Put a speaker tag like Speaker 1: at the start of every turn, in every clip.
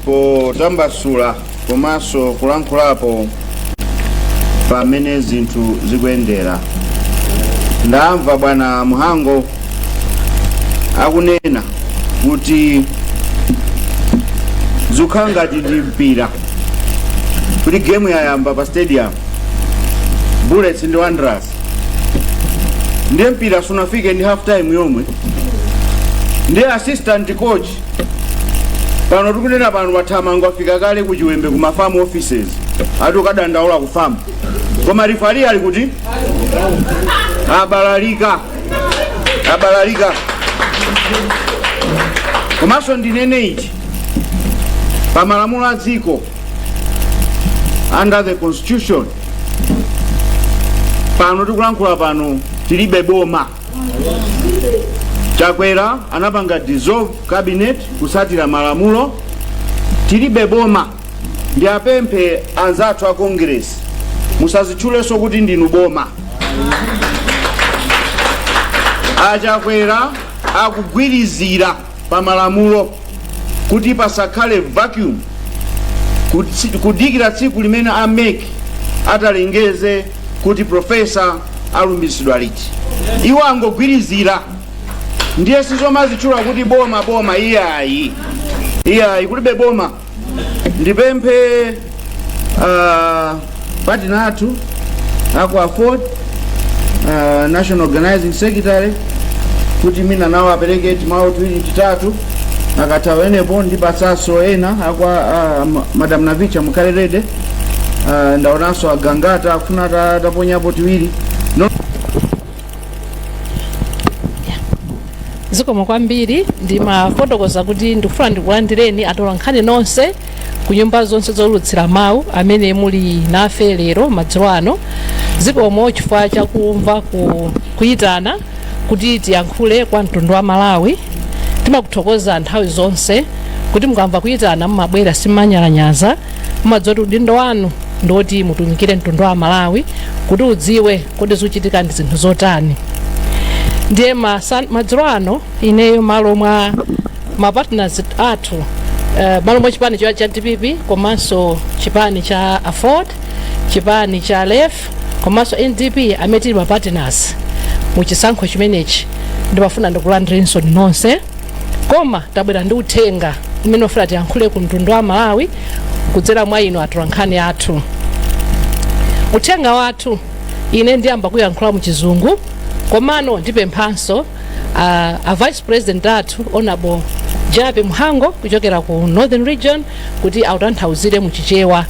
Speaker 1: potambasula komanso kulankhulapo pamene zinthu zikuyendera ndamva bwana Mhango akunena kuti zikukhala ngati ndi mpira kuti gemu yayamba pa stadium bullets ndi wanderers ndiye mpira sunafike ndi half time yomwe ndiye assistant coach pano tikunena pano athamanga afika kale ku chiwembe ku mafamu offices ati kukadandaula ku famu koma rifari ali kuti abalalika abalalika komanso ndinene ichi pa malamulo a dziko under the constitution pano tikulankhula pano tilibe boma chakwera anapanga dissolve cabinet kusatira malamulo tilibe boma ndiwapemphe anzathu a congress musazitchulenso kuti ndinu boma achakwera akugwirizira pa malamulo kuti pasakhale vacuum kutsi- kudikira tsiku limene a mec atalengeze kuti profesa alumbiritsidwa liti iwo angogwirizira ndiye zomazitchula kuti boma boma iyayi iyayi kulibe boma ndipemphe uh, patina wathu a ku aford uh, national organizing secretary kuti mwina nawo apereke timawu tiwiri titatu akatha penepo ndipatsanso ena akwa uh, ma- madam navicha mukhale rede uh, ndaonanso agangata akufuna ta- taponyapo tiwiri zikomo kwambiri ndimafotokoza kuti ndikufuna ndikulandireni atola nkhani nonse ku nyumba zonse zoulutsira mawu amene muli nafe lero madzulo ano zikomo chifukwa chakumva ku, kuyitana kuti tiyankhule kwa mtundu wa malawi timakuthokoza nthawi zonse kuti mukamva kuyitana mumabwera simunyalanyaza mumadziwa kuti udindo wanu ndiwoti mutumikire mtundu wa malawi kuti udziwe kodi zikuchitika ndi zinthu zotani ndiye masan- madzulo ano ineyo malo mwa mapartners athu uh, malo mwa chipani cha cha dpp komanso chipani cha aford chipani cha lef komanso ndp amene tili mapartners mu chisankho chimenechi ndimafuna ndikulandirenso nonse koma tabwera ndi uthenga umene tifuna tiyankhule ku mtundu wa malawi kudzera mwa inu atolankhani athu uthenga wathu ine ndiyamba kuyankhula mu chizungu komano ndipemphanso uh, a vice president athu honorable jappie mhango kuchokera ku northern region kuti autanthauzire mu chichewa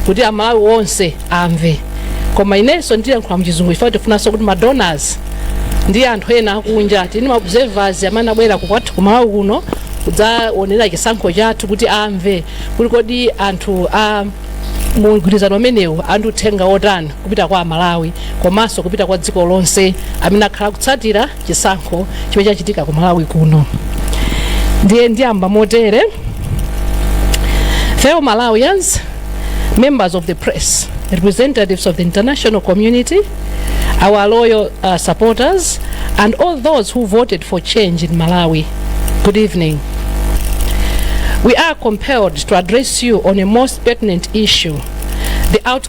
Speaker 1: kuti amalawi onse amve koma inenso ndiyankhula mu chizungu chifukwa tifunanso kuti ma donors ndi anthu ena akunja titi ma observers amene abwera kukwathu kumalawi kuno kudzaonera chisankho chathu kuti amve kuti kodi anthu a mgwirizano umenewu ali ndi uthenga wotani kupita kwa amalawi komanso kupita kwa dziko lonse amene akhala akutsatira chisankho chomwe chachitika ku malawi kuno ndiye ndiyamba motere fellow malawians members of the press representatives of the international community our loyal uh, supporters and all those who voted for change in malawi good evening we are compelled to address you on a most pertinent issue the outcome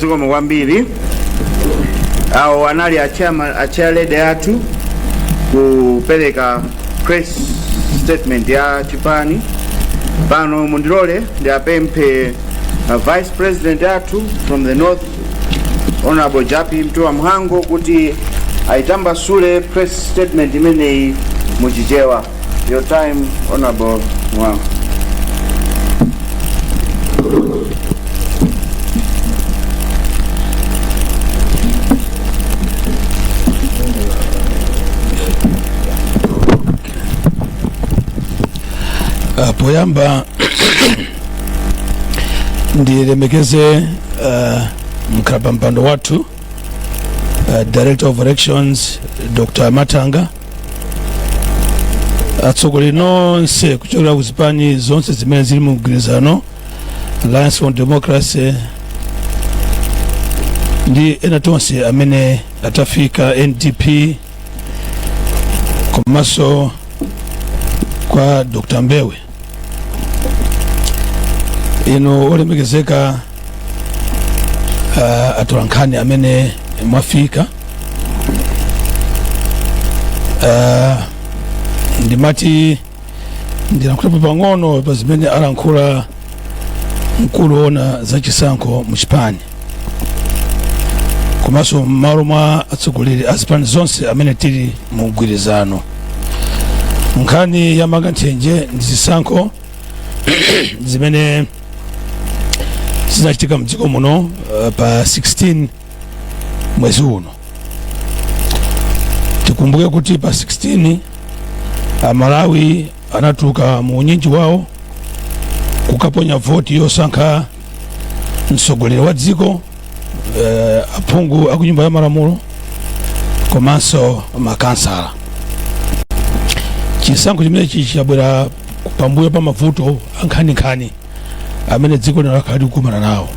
Speaker 1: zikomo kwambiri awo anali achama- achairlady athu kupereka press statement ya chipani pano mundilole ndiapemphe uh, vice president athu from the north honorable jappie mtuwa mhango kuti ayitambasule press statement imeneyi muchichewa Your time, Honorable Mhango. Ah, poyamba ndilemekeze ah, mkhala pa mpando wathu ah, director of elections dr matanga atsogoleri nonse kuchokera ku zipani zonse zimene zili mu mgwirizano alliance for democracy ndi ena tonse amene tafika ndp komanso kwa dr mbewe inu olemekezeka uh, atolankhani amene mwafika uh, ndimati ndilankhulepo pang'ono pa zimene alankhula mkulu woona za chisankho mu chipani komanso m'malo mwa atsogoleri a zipani zonse amene tili mu mgwirizano nkhani ya mang'anthenje ndi zisankho zimene zinachitika mdziko muno uh, pa 16 mwezi uno tikumbuke kuti pa 16 amalawi anatuluka mu unyinji wawo kukaponya voti yosankha mtsogoleri wa dziko eh, aphungu a ku nyumba ya malamulo komanso makansala chisankho chimenechi chabwera pambuyo pa mavuto ankhaninkhani amene dziko lino lakhala likukumana nawo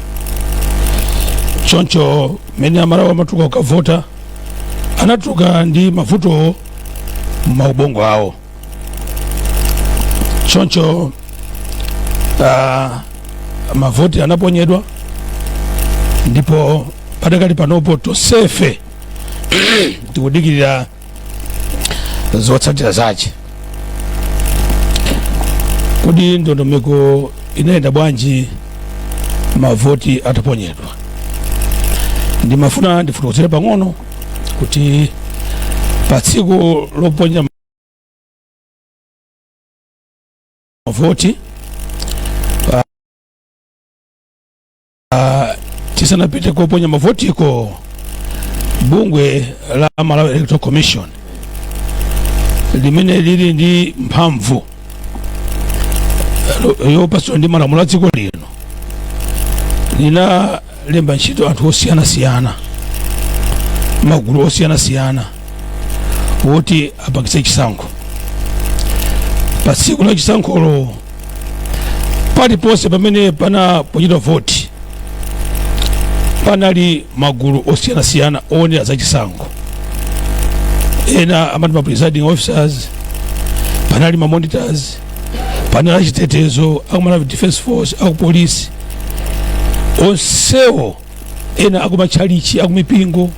Speaker 1: choncho mmene amalawi amatuluka kukavota anatuluka ndi mavutowo m'maubongo awo choncho uh, mavoti anaponyedwa ndipo pakadali panopo tosefe tikudikirira zotsatira zace kodi ndondomeko inayenda bwanji mavoti ataponyedwa ndimafuna ndifotokozere pang'ono kuti pa tsiku loponya mavoti ah, ah, tisanapite koponya mavotiko bungwe la Malawi Electoral Commission limene lili ndi mphamvu yopatsidwa ndi malamulo a dziko lino lina lemba ntchito anthu osiyanasiyana magulu osiyanasiyana woti apangitse chisankho pa tsiku la chisankholo paliponse pamene panaponyedwa voti panali magulu osiyanasiyana oonera za chisankho ena amati ma presiding officers panali ma monitors panali achitetezo aku Malawi Defense Force akupolisi onsewo ena akumatchalichi akumipingo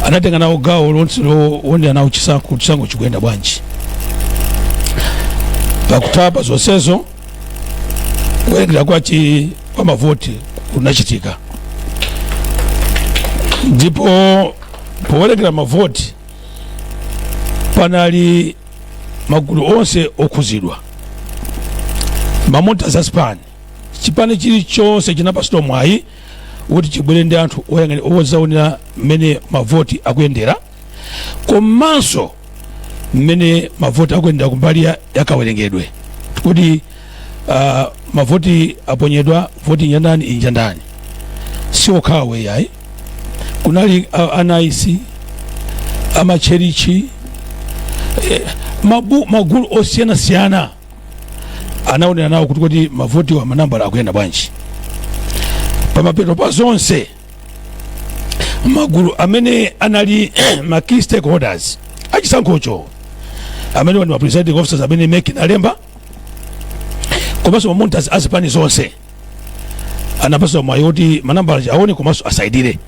Speaker 1: anatenga nawo gawo lonse lowonera nawo chisankho kuti chisankho chikuyenda bwanji pakutha pa zonsezo kuwerengera kwa chi- kwa mavoti kunachitika ndipo powerengera mavoti panali magulu onse okhuzidwa mamonita a zipani chipani chilichonse chinapatsidwa mwayi woti chibwere ndi anthu oyang'anira ozaonera mmene mavoti akuyendera komanso mmene mavoti akuyendera kumbali ya- yakawerengedwe kuti ah, mavoti aponyedwa voti iyi nja ndani iyi nja ndani si okhawo yayi kunali ah, a NICE amatchalitchi eh, mabu- magulu osiyanasiyana anaonera nawo kuti kodi mavoti wa manambala akuyenda bwanji pamapeto pa zonse magulu amene anali ma key stakeholders achisankhocho amenewa ndi ma presiding officers amene mek inalemba komanso ma monitors a zipani zonse anapaswa mwayi woti manambala aone komanso asainire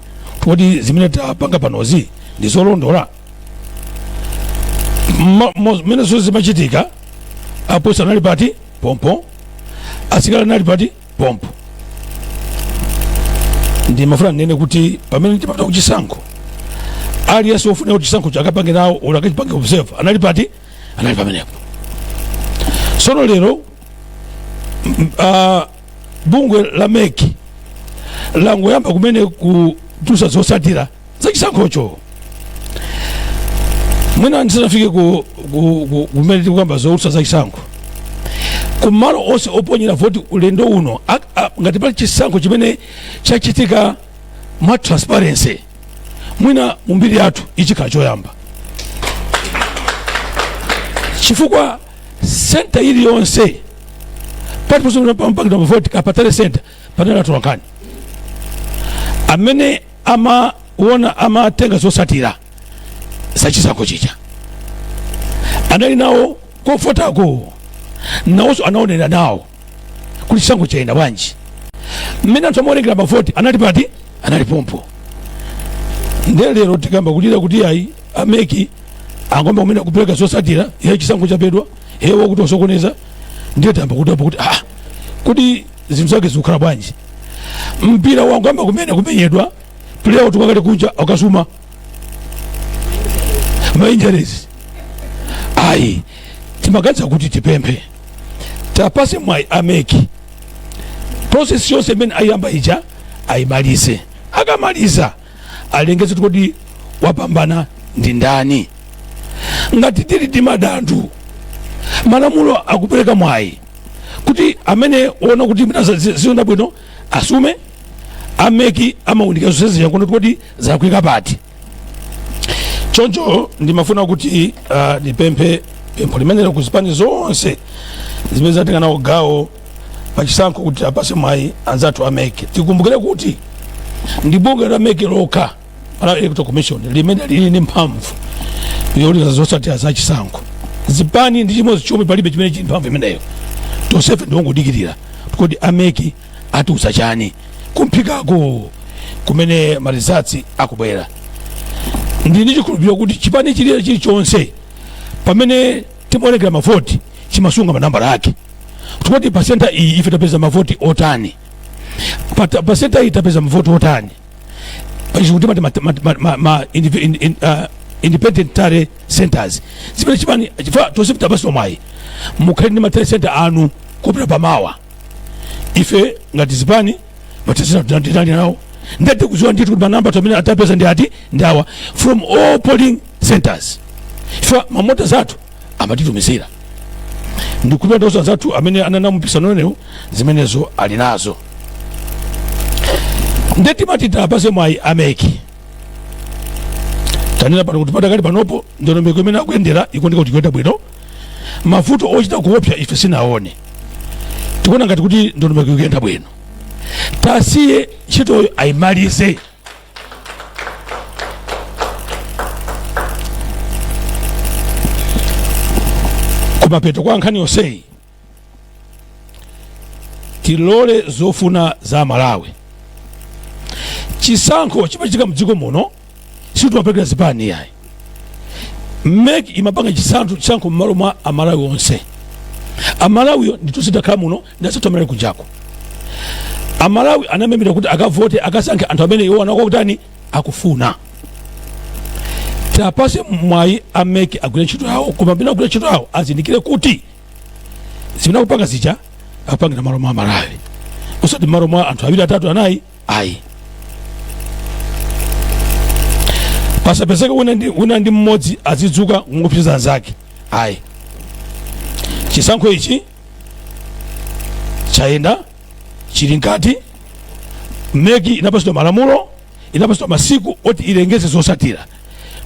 Speaker 1: kuti zimene tapanga panozi ndi zolondola Ma- mo- mmene zonse zimachitika apolisi anali pati pompo asikali anali pati pompo ndimafuna ndinene kuti pamene ndimapita kuchisankho aliyense wofunika kuti chisankhocho akapange nawo olo akachipange observe anali pati anali pamenepo sono lero m- m- ah, bungwe la meki langoyamba kumene kutulutsa zotsatira za chisankhocho mwina ndisanafike ku- ku- ku- kumene tikukamba zotulutsa za chisankho kumalo onse oponyera voti ulendo uno a- a- ngati pali chisankho chimene chachitika mwa transparency mwina mu mbiri yathu ichi chikhala choyamba chifukwa senta iliyonse pati posopita pamaponyedwa mavoti kapena tally senta panali atolankhani amene amaona amatenga zotsatira za chisankho chija anali nawo kovotako nawonso anaonera nawo kuti chisankho chayenda bwanji mmene anthu amawerengera mavoti anali pati anali pompo nde lero tikayamba kulira kuti ayi ameki angoyamba kumene kupereka zotsatira ya chisankho chabedwa hewa kuti wasokoneza ndiye tayamba kudabwa kuti ah kuti zinthu zake zikukhala bwanji mpira wangoyamba kumene kumenyedwa player watuluka kale kunja akasuma ma injuries ayi timaganiza kuti tipemphe tiwapatse mwayi ameki process yonse imene ayiyamba ija ayimalize akamaliza alengeze kuti wapambana ndi ndani ngati tili ndi madandaulo malamulo akupereka mwayi kuti amene waona kuti mwina za- zi- ziona bwino asume ameki aunike zonsezi n'kuona kuti zalakwika pati choncho ndimafuna kuti uh, ndipemphe pempho limenelo ku zipani zonse zimene zinatenga nawo gawo pachisankho kuti awapatse mwayi anzathu ameki tikumbukire kuti ndi bungwe la meki lokha Malawi Electoral Commission limene lili ndi mphamvu youlutsa zotsatira za chisankho zipani ndi chimodzi chomwe palibe chimene chili mphamvu imeneyo tonsefe ndiongodikirira kuti a MEC atiuza chani kumphikako kumene ma results akubwera ndili ndi chikhulupiriro kuti chipani chilira chilichonse pamene timawerengera mavoti chimasunga manambala ake kuti pa center iyi ife tapeza mavoti otani Pata- pa center iyi tapeza mavoti otani pachizungu timati ma- ma- ma- ma- ma- indiv- in- in- ah, independent tally centers zimene chipani chifukwa tonse tinapatsidwa mwayi mukhale ndi ma tally center anu kupita pamenepa ife ngati zipani ma tally center tinali nawo ndiye tikudziwa ndithu kuti manambala amene tapeza ndi ati ndi awa from all polling centers ife ma monitors athu amatitumizira ndikukhulupirira kuti onse anzathu amene anali mu mpikisano umenewu zimenezo ali nazo nde timati tiwapatse mwayi a MEC tanena pano kuti padakali panopo ndondomeko imene akuyendera ikuoneka kuti ikuyenda bwino mavuto ochita kuopsa ife sitinaone tikuona ngati kuti ndondomeko ikuyenda bwino tiwasiye ntchitoyo ayimalize kumapeto kwa nkhani yonseyi tilole zofuna za amalawi chisankho chimachitika mdziko muno sitimapangira zipani yayi MEC imapanga chisankho chisankho m'malo mwa amalawi onse amalawiyo ndithu sitakhala muno nda Saturday kunjako amalawi anamemera kuti akavote akasankhe anthu amene iwo akuwa kutani akufuna tiwapatse mwayi a MEC agwire ntchito yawo koma pamene akugwira ntchito yawo azindikire kuti zimene akupanga zija akupangira m'malo mwa amalawi osati m'malo mwa anthu awiri atatu anayi ayi pasapezeke wina ndi, wina ndi mmodzi azidzuka n'kuopseza anzake ayi chisankho ichi chayenda chili mkati MEC inapatsidwa malamulo inapatsidwa masiku oti ilengeze zotsatira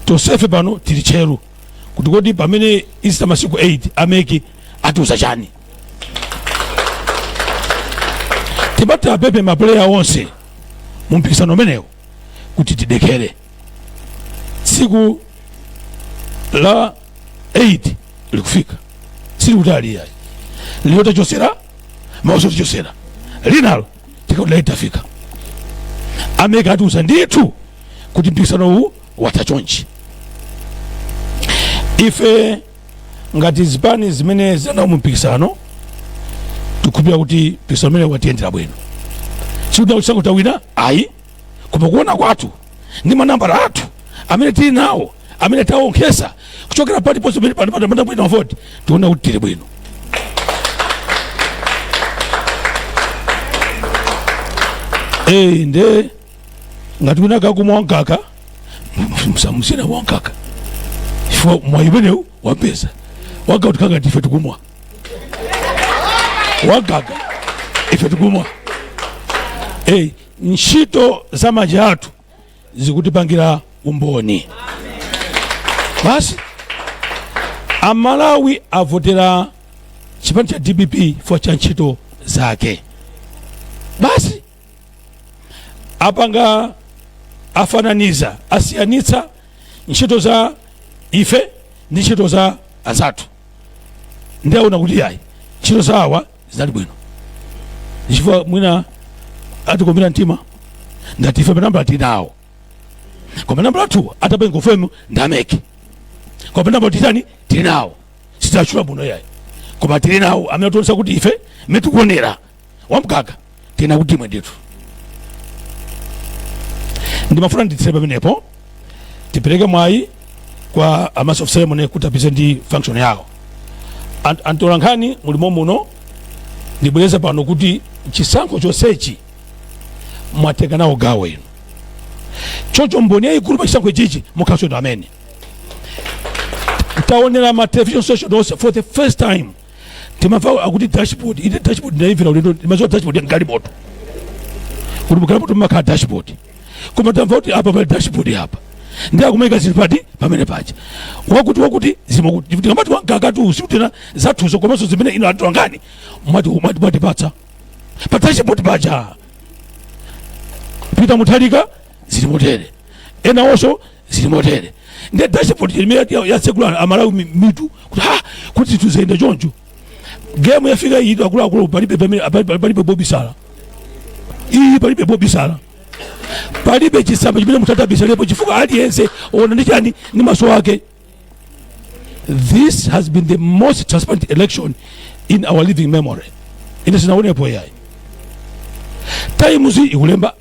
Speaker 1: tonsefe pano tili tcheru kuti kodi pamene patha masiku 8 a MEC atiuza chani timawapempha mapuleya onse mu mpikisano umenewu kuti tidekhere tsiku la 8 likufika silili kutali ayi lero tachotsera mawanso tichotsera linalo tikakhala tafika a MEC atiuza ndithu kuti mpikisano uwu watha chonchi ife ngati zipani zimene zili nawo mu mpikisano tikukhulupirira kuti mpikisano umenewu watiyendera bwino sikuti takuuzani tawina ayi koma kuona kwathu ndi manambala athu amene tili nawo amene tawonkhetsa kuchokera paliponse pamene panali poponyera voti tiona kuti tili bwino Eh, nde ngati wina akumwa wamkaka musamutsine wamkaka chifukwa mwayi umenewu wapeza wamkaka atikanga ife tikumwa wamkaka ife tikumwa Eh, Ntchito za manja athu zikutipangira umboni. Basi Amalawi avotera chipani cha DPP chifukwa cha ntchito zake. Basi apanga afananiza asiyanitsa ntchito za ife ndi ntchito za anzathu ndiye aona kuti ayi ntchito zawa zinali bwino chifukwa mwina atikumbira mtima ngati ife manambala tinawo koma manambalatu atapanga ufumu ndameke koma manambala titani tili nawo sititchula muno yayi koma tili nawo amene akutionetsa kuti ife amene tikuonera wamkaka tanena kuti imwe ndithu ndimafuna nditsire pamenepo tipereke mwayi kwa a master of ceremony kuti apeze ndi function yawo Ant- atolankhani mulimo muno ndibwereza pano kuti chisankho chonsechi mwatenga nawo gawo inu choncho mboni yayikulu pa chisankho ichichi mukhalenso inu amene taonera ma television station onse for the first time timamva akuti dashboard ine dashboard ndaimvera ulendo ndimaziwa dashboard ya galimoto kuti mugalimoto mumakhala dashboard koma tamva kuti apa pali dashboard apa ndi akumaika zinthu apa pamene paja wakuti wakuti zimakuti tikamati wankakatu sitikunena zathu zokha komanso zimene inu anthu anga inu mwati mwati mwatipatsa pa dashboard paja Mutharika zili motere ena onso zili motere nde dashboard imene ya- yatsekula amalawi mi- mitu kuti ha kuti izi zayenda choncho game yafika iyi akuluakulu palibe pamene- palibe palibe pobisala iyi palibe pobisala palibe chitsamba chimene mutatabisalepo chifukwa aliyense waona ndi chani ndi maso ake this has been the most transparent election in our living memory ine sindinaonepo yayi times ikulemba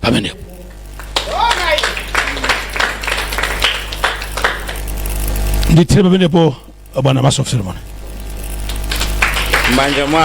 Speaker 1: pamenepo nditsire pamenepo bwana master of ceremony m'manja mwa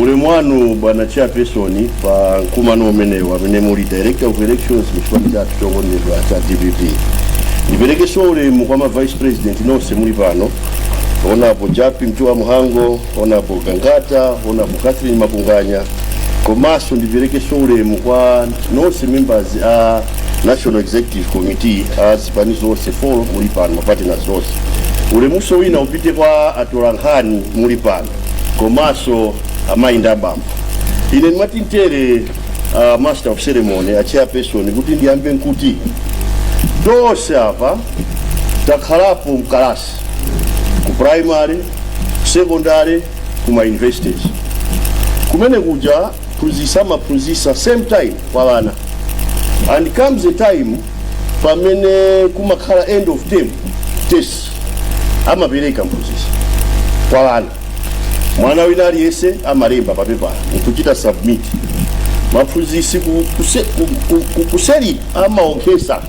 Speaker 1: Ulemu wanu bwana chairperson pa mkumano umenewu amene muli director of elections mu chipani chathu chokondedwa cha dpp ndiperekenso ulemu kwa ma vice president nonse muli pano onapo jappie mtuwa mhango onapo gangata onapo catherine makunganya komanso ndiperekenso ulemu kwa nonse members a national executive committee a zipani zonse zomwe muli pano mapatena onse ulemuso wina upite kwa atolankhani muli pano komanso amayi ndi abambo ine ndimati mtere uh, master of ceremony a chairperson kuti ndiyambe nkuti tonse apa takhalapo mkalasi ku primary secondary ku ma universities kumene kuja mphunzisi amaphunzisa same time kwa wana and comes a time pamene kumakhala end of term test amapereka mphunzitsi kwa wana mwana wina aliyense amalemba pa pepala nkuchita submit aphunzitsi ku- kuse- ku- ku- ku- kuseli amaonkhesa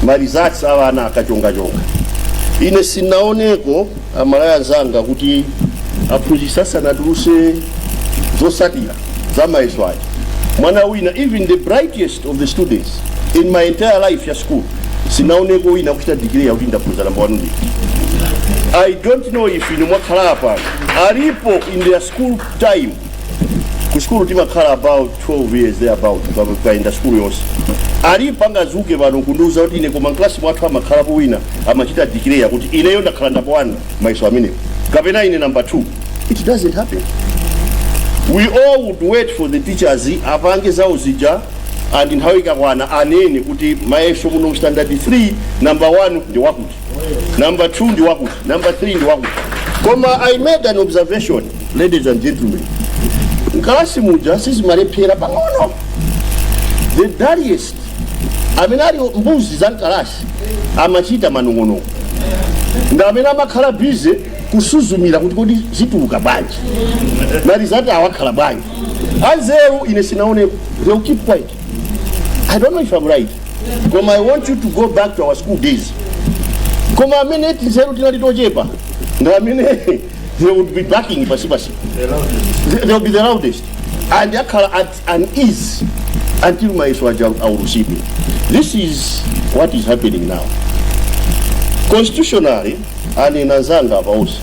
Speaker 1: marizati a wana akachongachonga ine sinaoneko amalawi anzanga kuti aphunzitsi asanatuluse zosatira za mayeso aja mwana wina even the brightest of the students in my entire life ya school sinaoneko wina akuchita dikireya kuti ndakhoza namba wanu ndithu i don't know if inu mwakhala apa alipo in their school time ku sukulu timakhala about 12 years there about kaenda sukulu yonse alipo angazuke pano kundiuza kuti ine koma mklasi mwathu anakhalapo wina amachita dikireya kuti ineyo ndakhala namba 1 mayeso amenewo kapena ine namba 2 it doesn't happen we all would wait for the teachers apange zawo zija and nthawi ikakwana anene kuti mayeso muno standard 3 number 1 ndi wakuti number 2 ndi wakuti number 3 ndi wakuti koma i made an observation ladies and gentlemen nkalasi muja sizimalephera pang'ono the dullest amene ali mbuzi za nkalasi amachita manong'onong'o ndi amene amakhala busy kusuzumira kuti kodi zituluka bwanji marizati awakhala bwanji anzeru ine sinaonepo they will keep quiet i don't know if i'm right koma i want you to go back to our school days koma amene tinzeru tinali tochepa ndi amene they would be barking pansipansi they will be the loudest and akhala at unease until mayeso aja aulutsidwe this is what is happening now constitutionally anena anzanga apa onse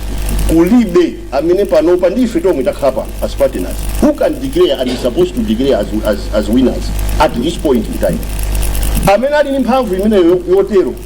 Speaker 1: kulibe amene panopa ndi ife tomwe takhala pano as partners who can declare and is supposed to declare as, as, as winners at this point in time amene ali ndi mphamvu imeneyo yotero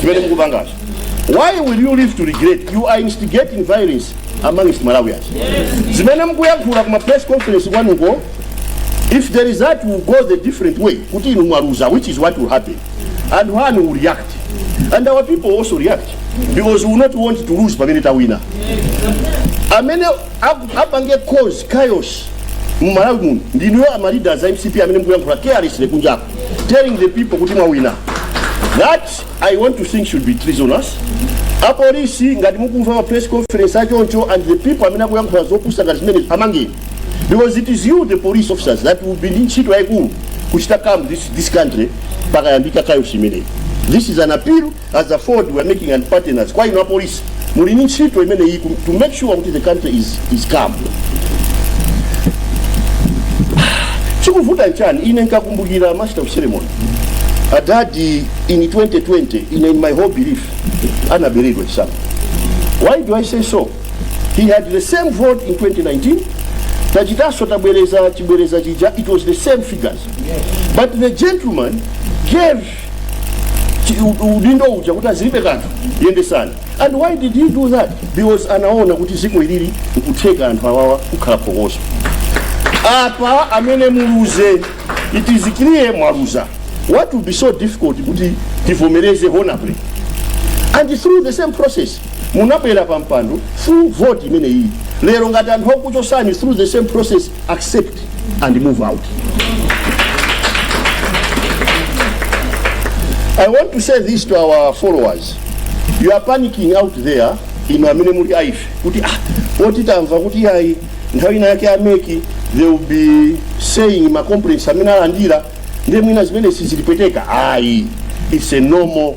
Speaker 1: zimene mukupangazo why will you live to regret you are instigating violence amongst malawians zimene mukuyankhula kuma press conference kwanuko if there is that will go a different way kuti inu mwaluza which is what will happen and one side will react and our people also react because we will not want to lose pamene tawina amene aku- apange cause chaos mmalawi muno ndinuyo amaleaders a mcp amene mukuyankhula carelessly kunjako telling the people kuti mwawina that i want to think should be treasonous apolisi ngati mukumva ma press conference achoncho and the people amene akuyankhula zopusa ngati zimene amangeni because it is you the police officers that will be ndi ntchito yayikulu kuchita calm this, this country pakayambika chaos imeneyi this is an appeal as a ford we are making and partners kwa ino apolisi muli ni ntchito imene iyi to make sure kuti the country is, is calm chikuvuta nchani ine nkakumbukira master of ceremony adadi in 2020 ine in my whole belief anaberedwa chisamu why do i say so he had the same vote in 2019 tachitaso tabwereza chibwereza chija it was the same figures but the gentleman gave Chi- u- udindo uja kuti ah zilibe kanthu yendesani and why did he do that because anaona kuti zimene zilili nkutheka anthu awawa kukhala phokoso apa a mcp muluze it is clear mwaluza what will be so difficult kuti tivomereze honorably and through the same process munabwera pa mpando through vote imene iyi lero ngati anthu akuchotsani through the same process accept and move out. I want to say this to our followers. You are panicking out there inu amene muli a ife kuti ah poti tamva kuti ayi nthawi ina yake a MEC they will be saying ma complaints amene alandira ndiye mwina zimenezi zitipweteka ayi it's a normal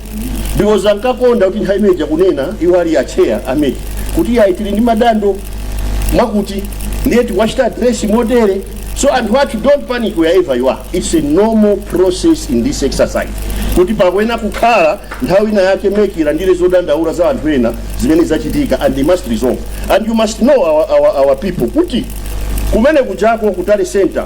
Speaker 1: because ankakonda kuti nthawi imeneja kunena iwo ali acheya a MEC kuti yayi tili ndi madando mwakuti ndiye tikuwachita address motere so anthu athu don't panic wherever you are it's a normal process in this exercise kuti pakuyenera kukhala nthawi ina yake MEC ilandire zodandaula za anthu ena zimene zachitika and they must resolve and you must know our, our, our people kuti kumene kujako ku tally center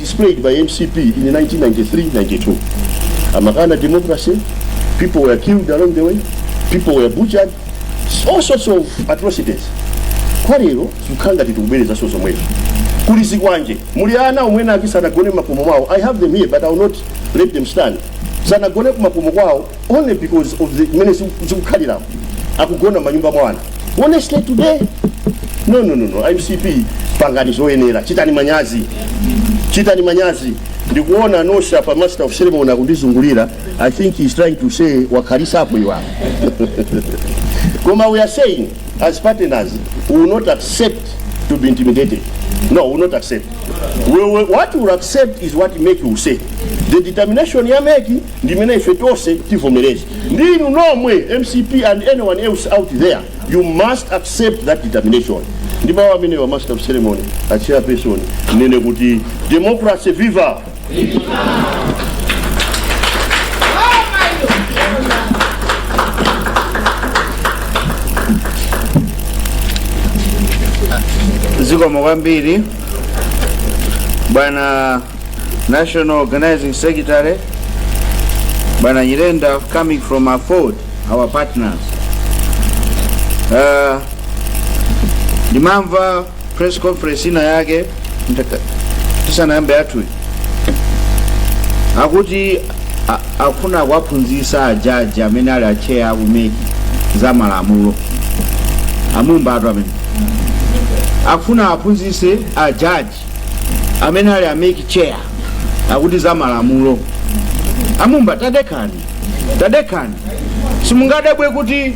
Speaker 1: displayed by mcp in 1993 92 amakana democracy people were killed along the way people were butchered all sorts of atrocities koma lero zikukhala ngati tikubwerezanso zomwezo kuli zikwanje muli ana amene ake sanagone mmakomo mwawo i have them here but i will not let them stand sanagone kumakomo kwawo only because of the mene zikukhalira akugona manyumba mwa ana honestly today no no no no mcp pangani zoyenera chitani manyazi chitani manyazi ndikuona nosha pa master of ceremony akundizungulira i think he is trying to say wakhalisa apo iwapo koma we are saying as partners we will not accept to be intimidated no we will not accept we will, what we will accept is what make you say the determination ya meki ndimene ife tonse tivomereze ndi inu nomwe mcp and anyone else out there you must accept that determination ndi mawu amenewa master of ceremony a chairperson ndinene kuti democracy viva zikomo kwambiri bwana National Organizing Secretary Bwana Nyirenda coming from Aford, our partners. Uh, ndimamva press conference ina yake ndaka- tisanayambe yathuyi akuti a- akufuna akuwaphunzitsa ajaji amene ali atcheya aku MEC za malamulo amumbatu amene akufuna aphunzitse ajaji amene ali a MEC chair akuti za malamulo amumba tadekhani tadekhani simungadabwe kuti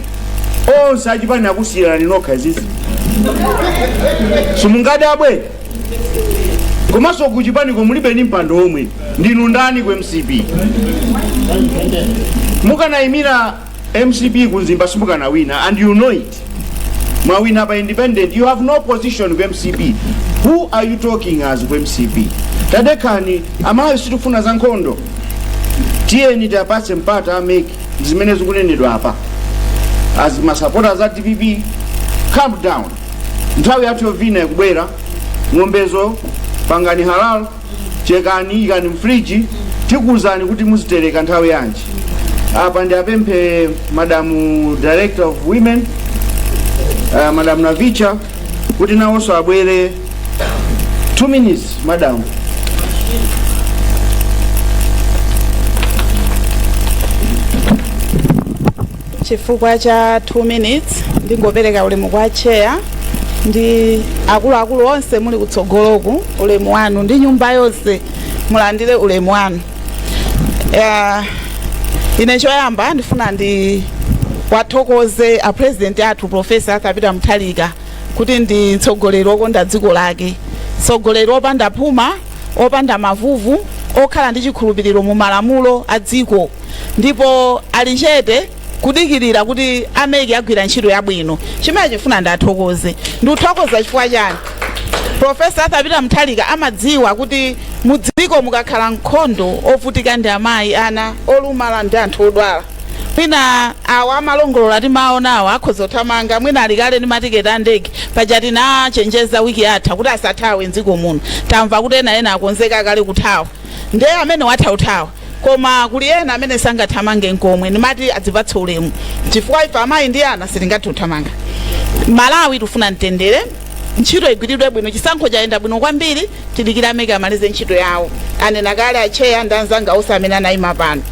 Speaker 1: onse achipani akusiyani nokha izizi simungadabwe komanso kuchipaniko mulibe ni mpando omwe ndinu ndani ku mcp mukanayimira Mcp ku Mzimba simukanawina and you know it. Mwawina pa independent, you have no position ku mcp. Who are you talking as ku mcp? Tadekhani, amalawi sitifuna za nkhondo. Tiyeni tiwapatse mpata a MEC ndi zimene zikunenedwa apa. As masapota za dpp, calm down. Nthawi yathu yovina ikubwera, ng'ombezo pangani halal chekani ikani mfriji tikuwuzani kuti muzitereka nthawi yanji apa ndi apemphe madamu director of women uh, madamu navicha kuti nawonso abwere 2 minutes madamu Chifukwa cha 2 minutes ndingopereka ulemu kwa chair ndi akuluakulu onse muli kutsogoloko ulemu wanu ndi nyumba yonse mulandire ulemu wanu. Uh, ine choyamba ndifuna ndiwathokoze a president athu professor Arthur Peter Mutharika kuti ndi mtsogoleri wokonda dziko lake mtsogoleri wopanda phuma opanda mavuvu, okhala ndi chikhulupiriro mu malamulo a dziko, ndipo ali chete kudikirira kuti a MEC agwira ntchito yabwino. Chimene ndifuna ndiwathokoze, ndikuthokoza chifukwa chani? Professor Arthur Peter Mutharika amadziwa kuti mu dziko mukakhala nkhondo, ovutika ndi amayi, ana, olumala ndi anthu odwala. mwina awo amalongolola timawaona awo akhoza kuthamanga mwina ali kale ndi matiketi a ndege paja ndinachenjeza wiki yatha kuti asathawe mdziko muno tamva kuti ena ena akonzeka kale kuthawa nde amene watha kuthawa koma kuli ena amene sangathamange nkomwe ndimati azitipatsa ulemu chifukwa ife amayi ndi ana sitingathe kuthamanga malawi tifuna mtendere ntchito igwiridwe bwino chisankho chayenda bwino kwambiri tidikira a MEC amalize ntchito yawo anena kale atcheya ndi anzanga onse amene anaima pano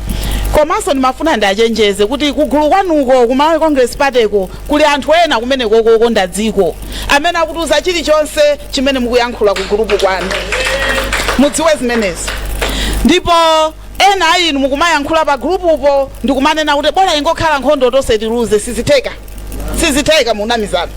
Speaker 1: komanso ndimafuna ndiwachenjeze kuti kugulu kwanuko ku malawi congress partyko kuli anthu ena kumeneko okonda dziko amene akutiuza chilichonse chimene mukuyankhula ku gulupu kwanu mudziwe zimenezo ndipo ena a inu mukumayankhula pa gulupupo ndikumanena kuti bora ingokhala nkhondo tonse tiluze sizitheka sizitheka munamizana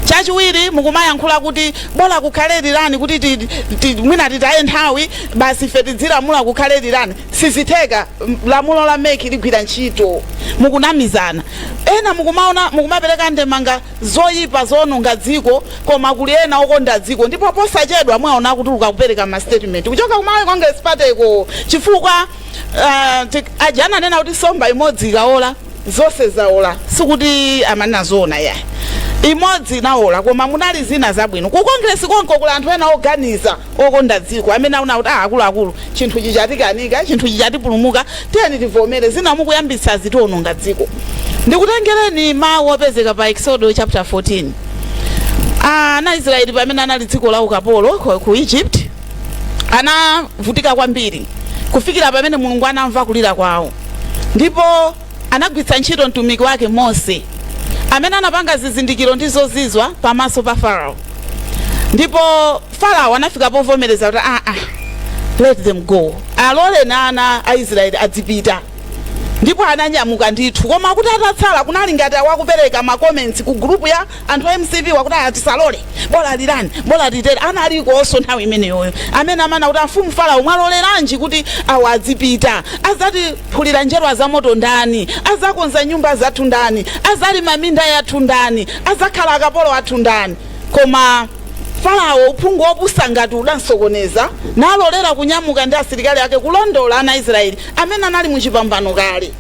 Speaker 1: chachiwiri mukumayankhula kuti bola kukhale rerun kuti ti- ti- mwina titaye nthawi basi ife tidzilamula kukhale rerun sizitheka M- lamulo la MEC ligwira ntchito mukunamizana ena mukumaona mukumapereka ndemanga zoyipa zoononga dziko koma kuli ena okonda dziko ndipo posachedwa mwaona kuti akupereka ma statement kuchoka ku malawi congress party ko chifukwa uh, ajana anena kuti somba imodzi ikaola zonse zaola sikuti amanena zoona yayi imodzi inaola koma munali zina zabwino ku kongresi konko kuli anthu ena oganiza okonda dziko amene aona kuti ah, akuluakulu chinthu chatikanika chinthu chatipulumuka tiyeni tivomere zina mukuyambitsa zitiononga dziko ndikutengereni mawu opezeka pa exodo chapter 14 ana israeli pamene anali dziko la ukapolo ku ku egypt anavutika kwambiri kufikira pamene mulungu anamva kulira kwawo ndipo anagwiritsa ntchito mtumiki wake mose amene anapanga zizindikiro ndi zozizwa pamaso pa farao ndipo farao anafika povomereza kuti aa ah, ah, let them go aloleni ana a israeli adzipita ndipo ananyamuka ndithu koma kuti atatsala kunali ngati awa akupereka makoments ku group ya anthu a mcp wakuti aa tisalole bola rerun bola litere analikonso nthawi imeneyoyo amene amati amfumu farao mwawaloleranji kuti awa adzipita azatiphulira njerwa za moto ndani azakonza nyumba zathu ndani azalima minda yathu ndani azakhala akapolo athu ndani koma farao uphungu wopusa ngati udamsokoneza nalolera kunyamuka ndi asilikali ake kulondola ana israeli amene anali muchipambano kale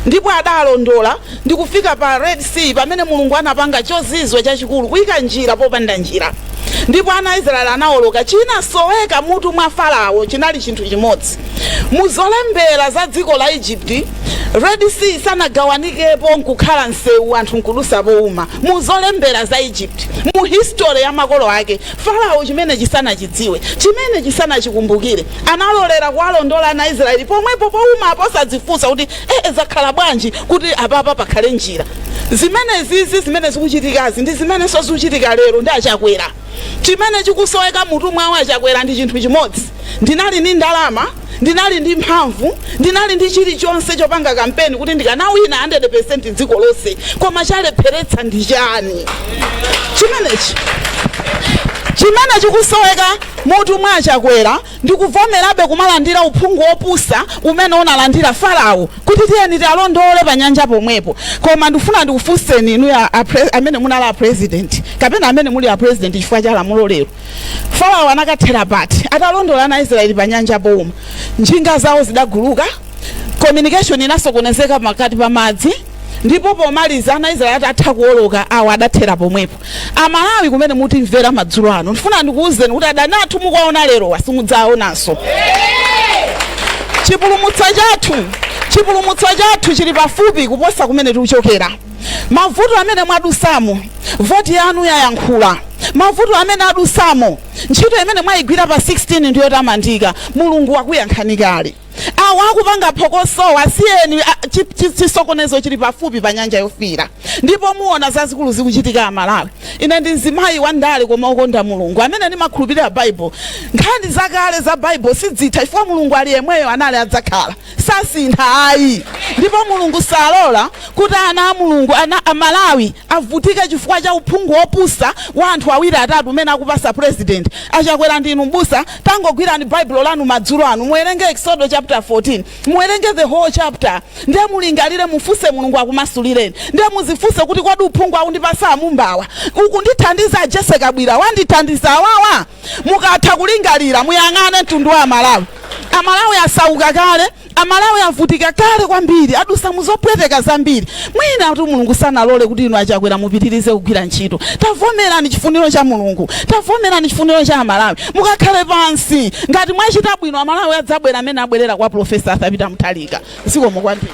Speaker 1: Ndipo adawalondola ndi kufika pa Red Sea, pamene Mulungu anapanga chozizwa chachikulu, kuika njira popanda njira. Ndipo ana a Israeli anaoloka. Chinasoweka mmutu mwa Farao chinali chinthu chimodzi. Mu zolembera za dziko la Egypt, Red Sea sanagawanikepo nkukhala msewu anthu nkudutsa pouma. Mu zolembera za Egypt, mu history ya makolo ake, Farao chimenechi sanachidziwe, chimenechi sanachikumbukire. Analolera kuwalondola ana a Israeli pomwepo pouma apa osadzifunsa kuti ee zakhala bwanji kuti apapa pakhale njira. Zimenezizi zimene zikuchitikazi ndi zimenenso zikuchitika lero ndi a Chakwera. Chimene chikusoweka mmutu mwawo a Chakwera ndi chinthu chimodzi, ndinali ndi ndalama, ndinali ndi mphamvu ndinali ndi chilichonse chopanga kampeni kuti ndikanawina 100% mdziko lonse koma chalepheretsa ndi chani chimenechi chimene chikusoweka mmutu mwa achakwera ndikuvomerabe kumalandira uphungu wopusa umene analandira farao kuti tiyeni tiwalondole pa nyanja pomwepo koma ndifuna ndikufunseni inuyo a- a pre- amene munali a president kapena amene muli a president chifukwa cha lamulo lero Farao anakathera pati atalondola ana a Israeli pa nyanja pouma? Njinga zawo zidaguluka, communication inasokonezeka pakati pa madzi ndipo pomaliza ana Israeli atatha kuwoloka awa adathera pomwepo. Amalawi kumene mutimvera madzulo ano ndifuna ndikuwuzeni kuti adani athu mukuwaona lerowa simudzawaonanso. Chipulumutso chathu chipulumutso chathu chili pafupi kuposa kumene tikuchokera. Mavuto amene mwadusamo, voti yanu yayankhula. Mavuto amene adusamo, ntchito imene mwayigwira pa 16 ndi yotamandika. Mulungu wakuyankhani kale. Awa akupanga phokosowa asiyeni, a- chi- chi- chisokonezo chili pafupi pa nyanja yofiira, ndipo muona zazikulu zikuchitika Amalawi. Ine ndi mzimayi wa ndale koma okonda Mulungu amene ndimakhulupirira Baibulo. Nkhani zakale za Baibulo sidzitha chifukwa Mulungu ali yemweyo anali adzakhala. sasintha ayi ndipo mulungu salola kuti ana a mulungu ana a malawi avutike chifukwa cha uphungu wopusa wa anthu awiri atatu umene akupasa president achakwera ndinu mbusa tangogwirani baibulo lanu madzulo ano muwerenge exodo chapter 14 muwerenge the whole chapter ndiye mulingalire mufunse mulungu akumasulireni ndiye muzifunse kuti kodi uphungu akundipasa amumbawa ukundithandiza a jese kabwira wandithandiza awawa Mukatha kulingalira, muyang'ane mtundu wa Amalawi. Amalawi asauka kale. Amalawi avutika kale kwambiri. Adusa mu zopweteka zambiri. Mwinatu Mulungu sanalole kuti inu a Chakwera mupitirize kugwira ntchito. Tavomerani chifuniro cha Mulungu. Tavomerani chifuniro cha Amalawi. Mukakhale pansi. Ngati mwachita bwino, Amalawi adzabwera mmene abwerera kwa Profesa Arthur Peter Mutharika. Zikomo kwambiri.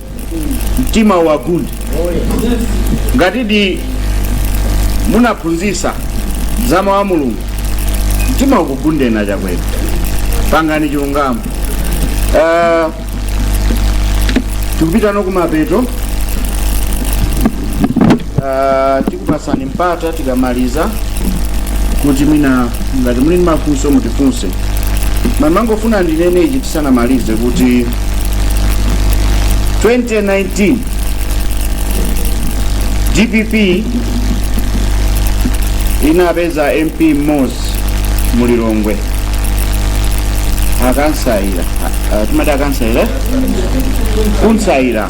Speaker 1: mtima uwagunde ngatidi munaphunzisa za mawu a mulungu mtima ukugundeni achakwera pangani chilungamo Eh, tikupitano kumapeto Ah, tikupasani mpata tikamaliza kuti mwina ngati muli ndi mafunso mutifunse ndimangofuna ndinene ichi tisanamalize kuti 2019 dpp inapeza mp mmodzi mu lilongwe a kunsaira Ah, ah, timati a kunsaira kunsaira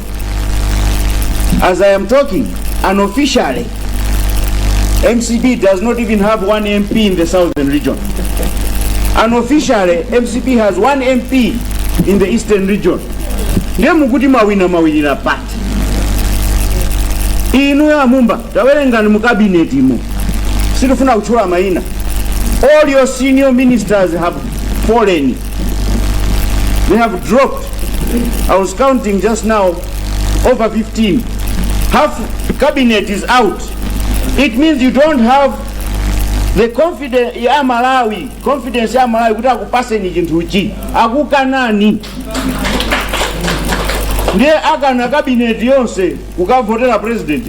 Speaker 1: As I am talking, unofficially, MCP does not even have one MP in the southern region. Unofficially, MCP has one MP in the eastern region. Ndiye mukuti mawina mawinira pati. Inu ya mumba, tawerengani mu cabinet imo. Sitofuna kutchula maina. All your senior ministers have fallen They have dropped. I was counting just now over 15. Half cabinet is out. It means you don't have the confidence ya Malawi, confidence ya Malawi kuti akupaseni chinthuchi akukanani ndiye akana kabineti yonse kukavotera president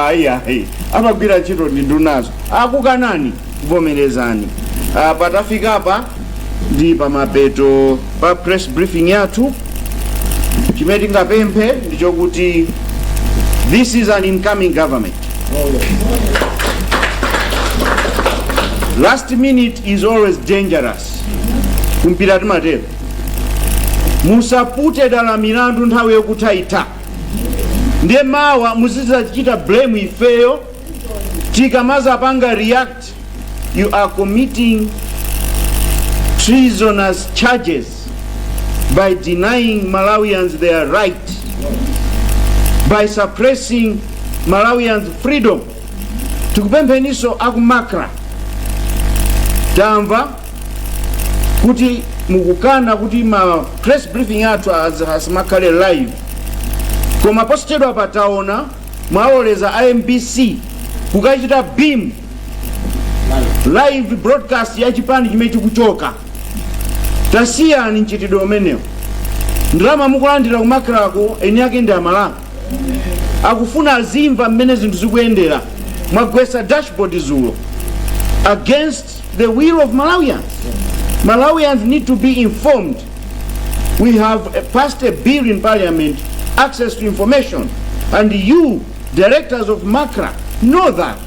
Speaker 1: ayi ayi amagwira ntchito ndi ndunazi akukanani vomerezani Ah, patafika apa ndi pamapeto pa press briefing yathu chimene tingapemphe ndi chokuti this is an incoming government last minute is always dangerous kumpira timatero musapute dala milandu nthawi yokuthaitha ndiye mawa muzidzachita blame ifeyo tikamazapanga react you are committing treasonous charges by denying malawians their right by suppressing malawians freedom tikupempheniso aku MACRA tamva kuti mukukana kuti ma press briefing athu asamakhale live koma posachedwa pataona mwaloleza a mbc kukachita beam live broadcast ya chipani chimene chikuchoka tasiyani mchitidwe umenewo ndalama mukulandira ku MACRA ko eni ake ndi amalawi akufuna azimva mmene zinthu zikuyendera mwagwesa dashboard zulo against the will of malawians malawians need to be informed We have uh, passed a bill in parliament, access to information, and you, directors of MACRA, know that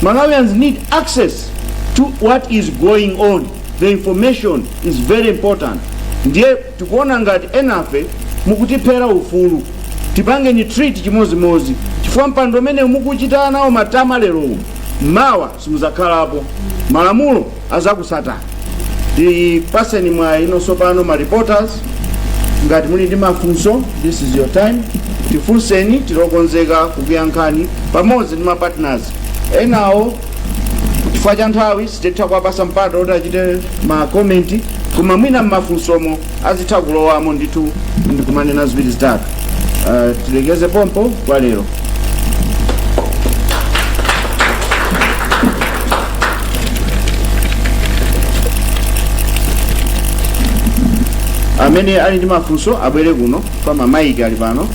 Speaker 1: Malawians need access to what is going on. The information is very important. Ndiye tikuona ngati enafe mukutiphera ufulu tipangeni treat chimodzimodzi chifukwa mpando umene mukuchita nawo matama lerowu mawa simuzakhalapo malamulo azakusatani tipaseno mwayi ino sopano ma reporters ngati muli ndi mafunso this is your time tifunseni tilokonzeka kukuyankhani pamodzi ndi mapartners enawo chifukwa cha nthawi sititha kuwapasa mpata kuti achite makomenti koma mwina mmafunsomo azitha kulowamo ndithu ndikumanena ziwiri zitatu uh, tilekeze pompa kwa lero amene ali ndi mafunso abwere kuno kwa mamaiki ali pano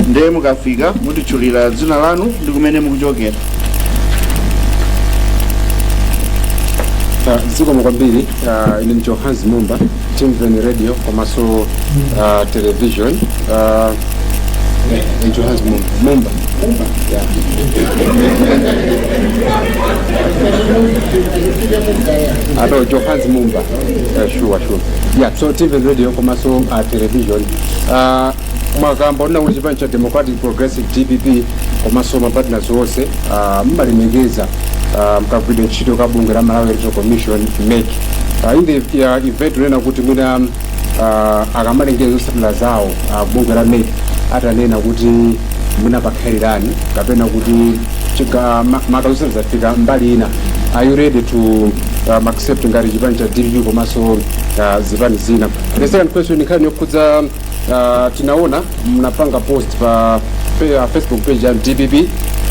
Speaker 1: ndiye mukafika mutitchulira dzina lanu ndi kumene mukuchokera Ah, zikomo kwambiri ah, ine ndicho hans mumba timveni radio komanso ah, television Ah, eh, ndicho hans mumba mumba Yeah. Ah, no, ndicho hans mumba Eh, sure sure yeah so timveni radio komanso ah, television Ah, mwakamba zonena kuti chipani cha democratic progressive dpp komanso mapartners onse ah, mmalemekeza ah, mkagwiridwe ntchito ka bungwe la malawi electoral commission mec Ah, in the event kunena kuti mwina ah, akamalengeza zotsatira zawo ah, bungwe la mec atanena kuti mwina pakhala rerun kapena kuti chiga- ma- maka zotsatira zafika mbali ina are you ready to um, accept ngati chipani cha dpp komanso ah, zipani zina the second question nkhani yokhudza uh, tinaona mnapanga post pa pe- uh, facebook page ya dpp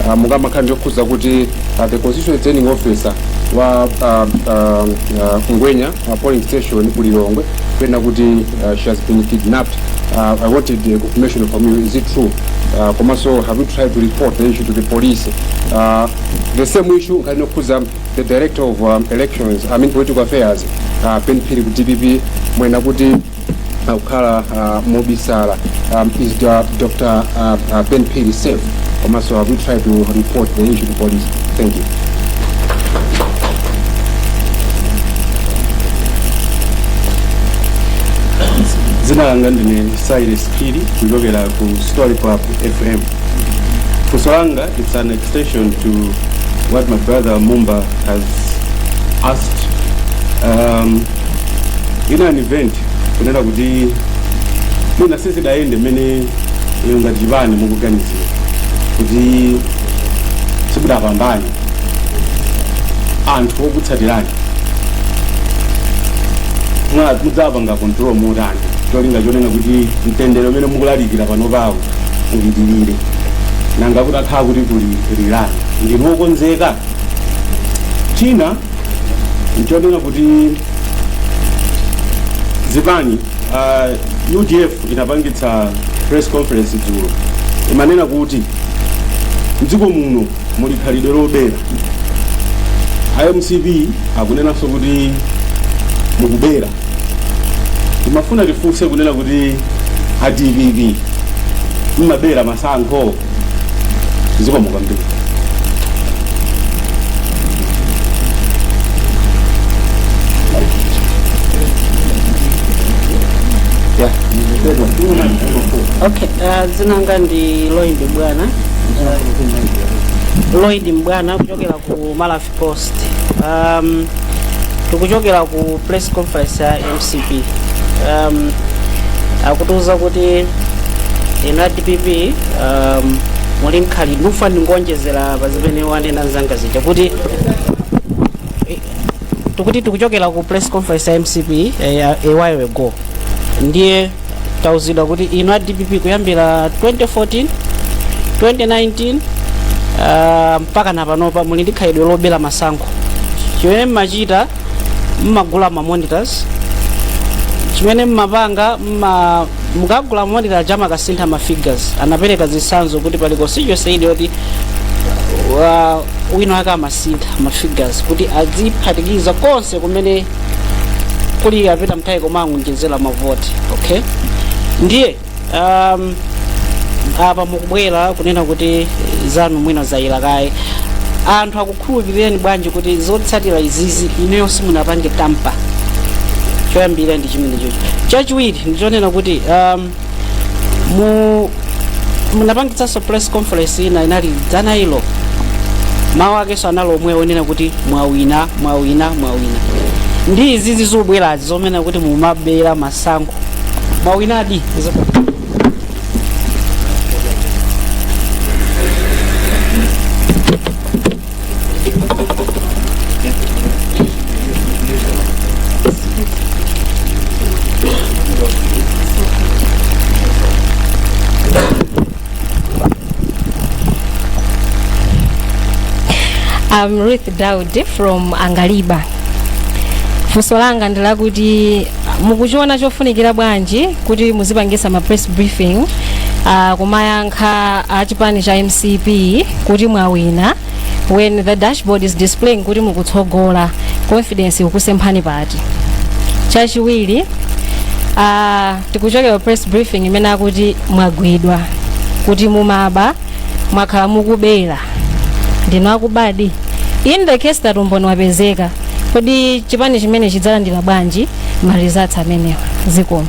Speaker 1: uh, mukamakhala ndiyokhuza kuti uh, the constitutional returning officer wa uh, uh, uh, ngwenya uh, polling station ku lilongwe pena kuti uh, she has been kidnapped uh, i wanted uh, confirmation from you is it true uh, komanso have you tried to report the issue to the police uh, the same issue nkhani yokhuza the director of um, elections i mean political affairs uh, ben phiri ku dpp mwena kuti akukhala uh, mobisala um, is the, uh, Dr. Uh, uh, Ben Piri safe komanso have we tried to report the issue to police thank you dzina langa ndine Cyrus Phiri kuchokera ku Story Club FM funso langa it's an extension to what my brother Mumba has asked um, in an event kunena kuti mwina sizidayende mmene inu ngati chipani mukuganizira kuti simudapambane anthu okutsatirani Mwa- mudzapanga control motani cholinga chonena kuti mtendere umene mukulalikira panopawo upitirire nanga kutakhala kuli kulirana ndinu okonzeka china nchonena kuti zipani uh, udf inapangitsa press conference dzulo imanena kuti mdziko muno muli khalidwe lobera a mcp akunenanso kuti mukubera timafuna tifunse kunena kuti a dpp mmabera masankho zikomo kwambiri okay uh, dzina langa ndi lloyd mbwana lloyd mbwana kuchokera ku malawi post um, tikuchokera ku press conference ya mcp um, akutiuza kuti inu a dpp um, muli mkhali ndikufuna ndingoonjezera pa zimene wanena mzanga zija kuti eh, tikuti tikuchokera ku press conference ya mcp eh, a while ago ndiye tauzidwa kuti inu a dpp kuyambira 2014 2019 uh, mpaka na panopa muli ndi khalidwe lobera masankho chimene mmachita mmagula ma monitors chimene mmapanga mma mukagula monitor aja makasintha ma figures anapereka zitsanzo kuti pali constituency ina yoti wa- wina wake amasintha ma figures kuti adziphatikiza konse kumene kuli a peter mutharika amangoonjezera mavoti okay ndiye um, apa mukubwera kunena kuti zanu mwina zayera kaye anthu akukhulupirireni bwanji kuti zotsatira izizi ineyo simunapange tamper choyambirira ndi chimenechocho chachiwiri ndichonena kuti um, mu munapangitsanso press conference ina inali dzana ilo mawu akenso anali omwe onena kuti mwawina mwawina mwawina ndi izizi zobwerazi zonena kuti mumabera masankho mwawinadi I'm Ruth Daudi from Angaliba. Funso langa ndi lakuti mukuchiona chofunikira bwanji kuti muzipangisa ma press briefing uh, kumayanga kha a chipani cha mcp kuti mwawina when the dashboard is displaying kuti mukutsogola confidence ikusemphana pati chachiwiri uh, tikuchokera press briefing imene akuti mwagwidwa kuti mumaba mwakhala mukubera ndinu akubadi in the case that umboni wapezeka kodi chipani chimene chidzalandira bwanji ma results amenewa zikomo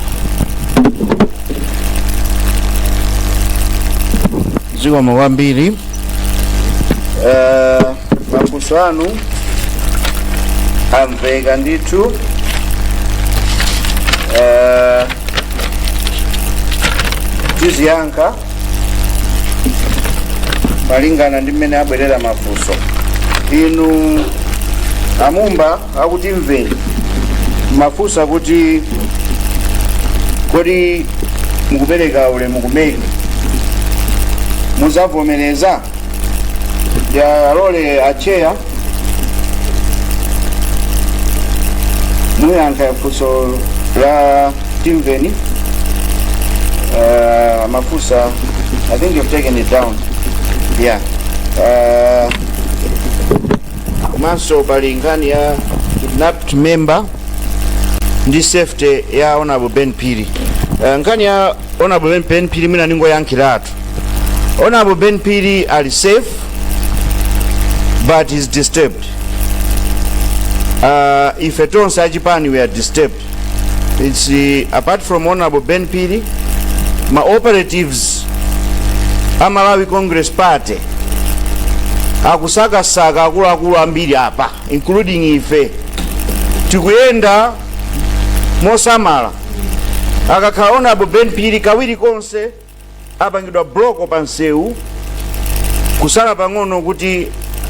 Speaker 1: zikomo kwambiri Eh, mafunso anu amveka ndithu Eh, tiziyankha malingana ndi mmene abwerera mafunso inu amumba a Times Mveni mafunsa kuti kodi mukupereka ulemu kumene muzavomereza yalole acheya muyankha funso la timveni uh, mafunsa i think you've taken it down yeah uh, komanso pali nkhani ya kidnapped member ndi safety ya honorable Ben Phiri uh, nkhani ya honorable Ben, Ben Phiri mwina ningoyankhiratu honorable ben pili ali safe but is disturbed uh, ife tonse achipani we are disturbed it's uh, apart from honorable Ben Phiri ma operatives a malawi congress party akusakasaka akuluakulu ambiri apa including ife tikuyenda mosamala akakhala honorable Ben Phiri kawiri konse apangidwa bloko pa msewu kusala pang'ono kuti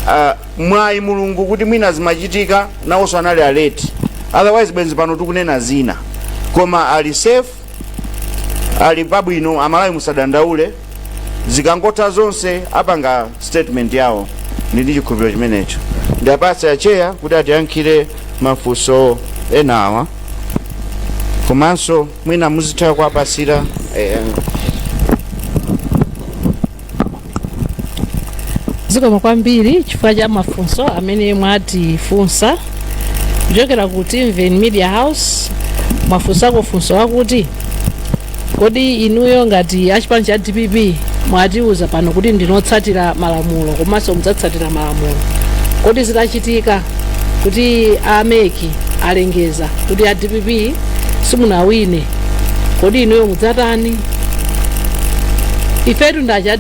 Speaker 1: uh, mwayi Mulungu kuti mwina zimachitika nawonso anali aleti otherwise bwenzi pano tikunena zina koma ali safe ali pabwino amalawi musadandaule zikangotha zonse apanga statement yawo ndili ndi chikhulupiriro chimenecho ndiwapatsa acheya kuti atiyankhire mafunso enawa komanso mwina muzitha kuwapatsira eh, zikomo kwambiri chifukwa cha mafunso amene mwatifunsa kuchokera ku timven media house mwafunsako funso wakuti kodi inuyo ngati achipani cha dpp mwatiuza pano kuti ndinu otsatira malamulo komanso mudzatsatira malamulo kodi zitachitika kuti a mec alengeza kuti a dpp simunawine kodi inuyo mudzatani ifetu ndi cha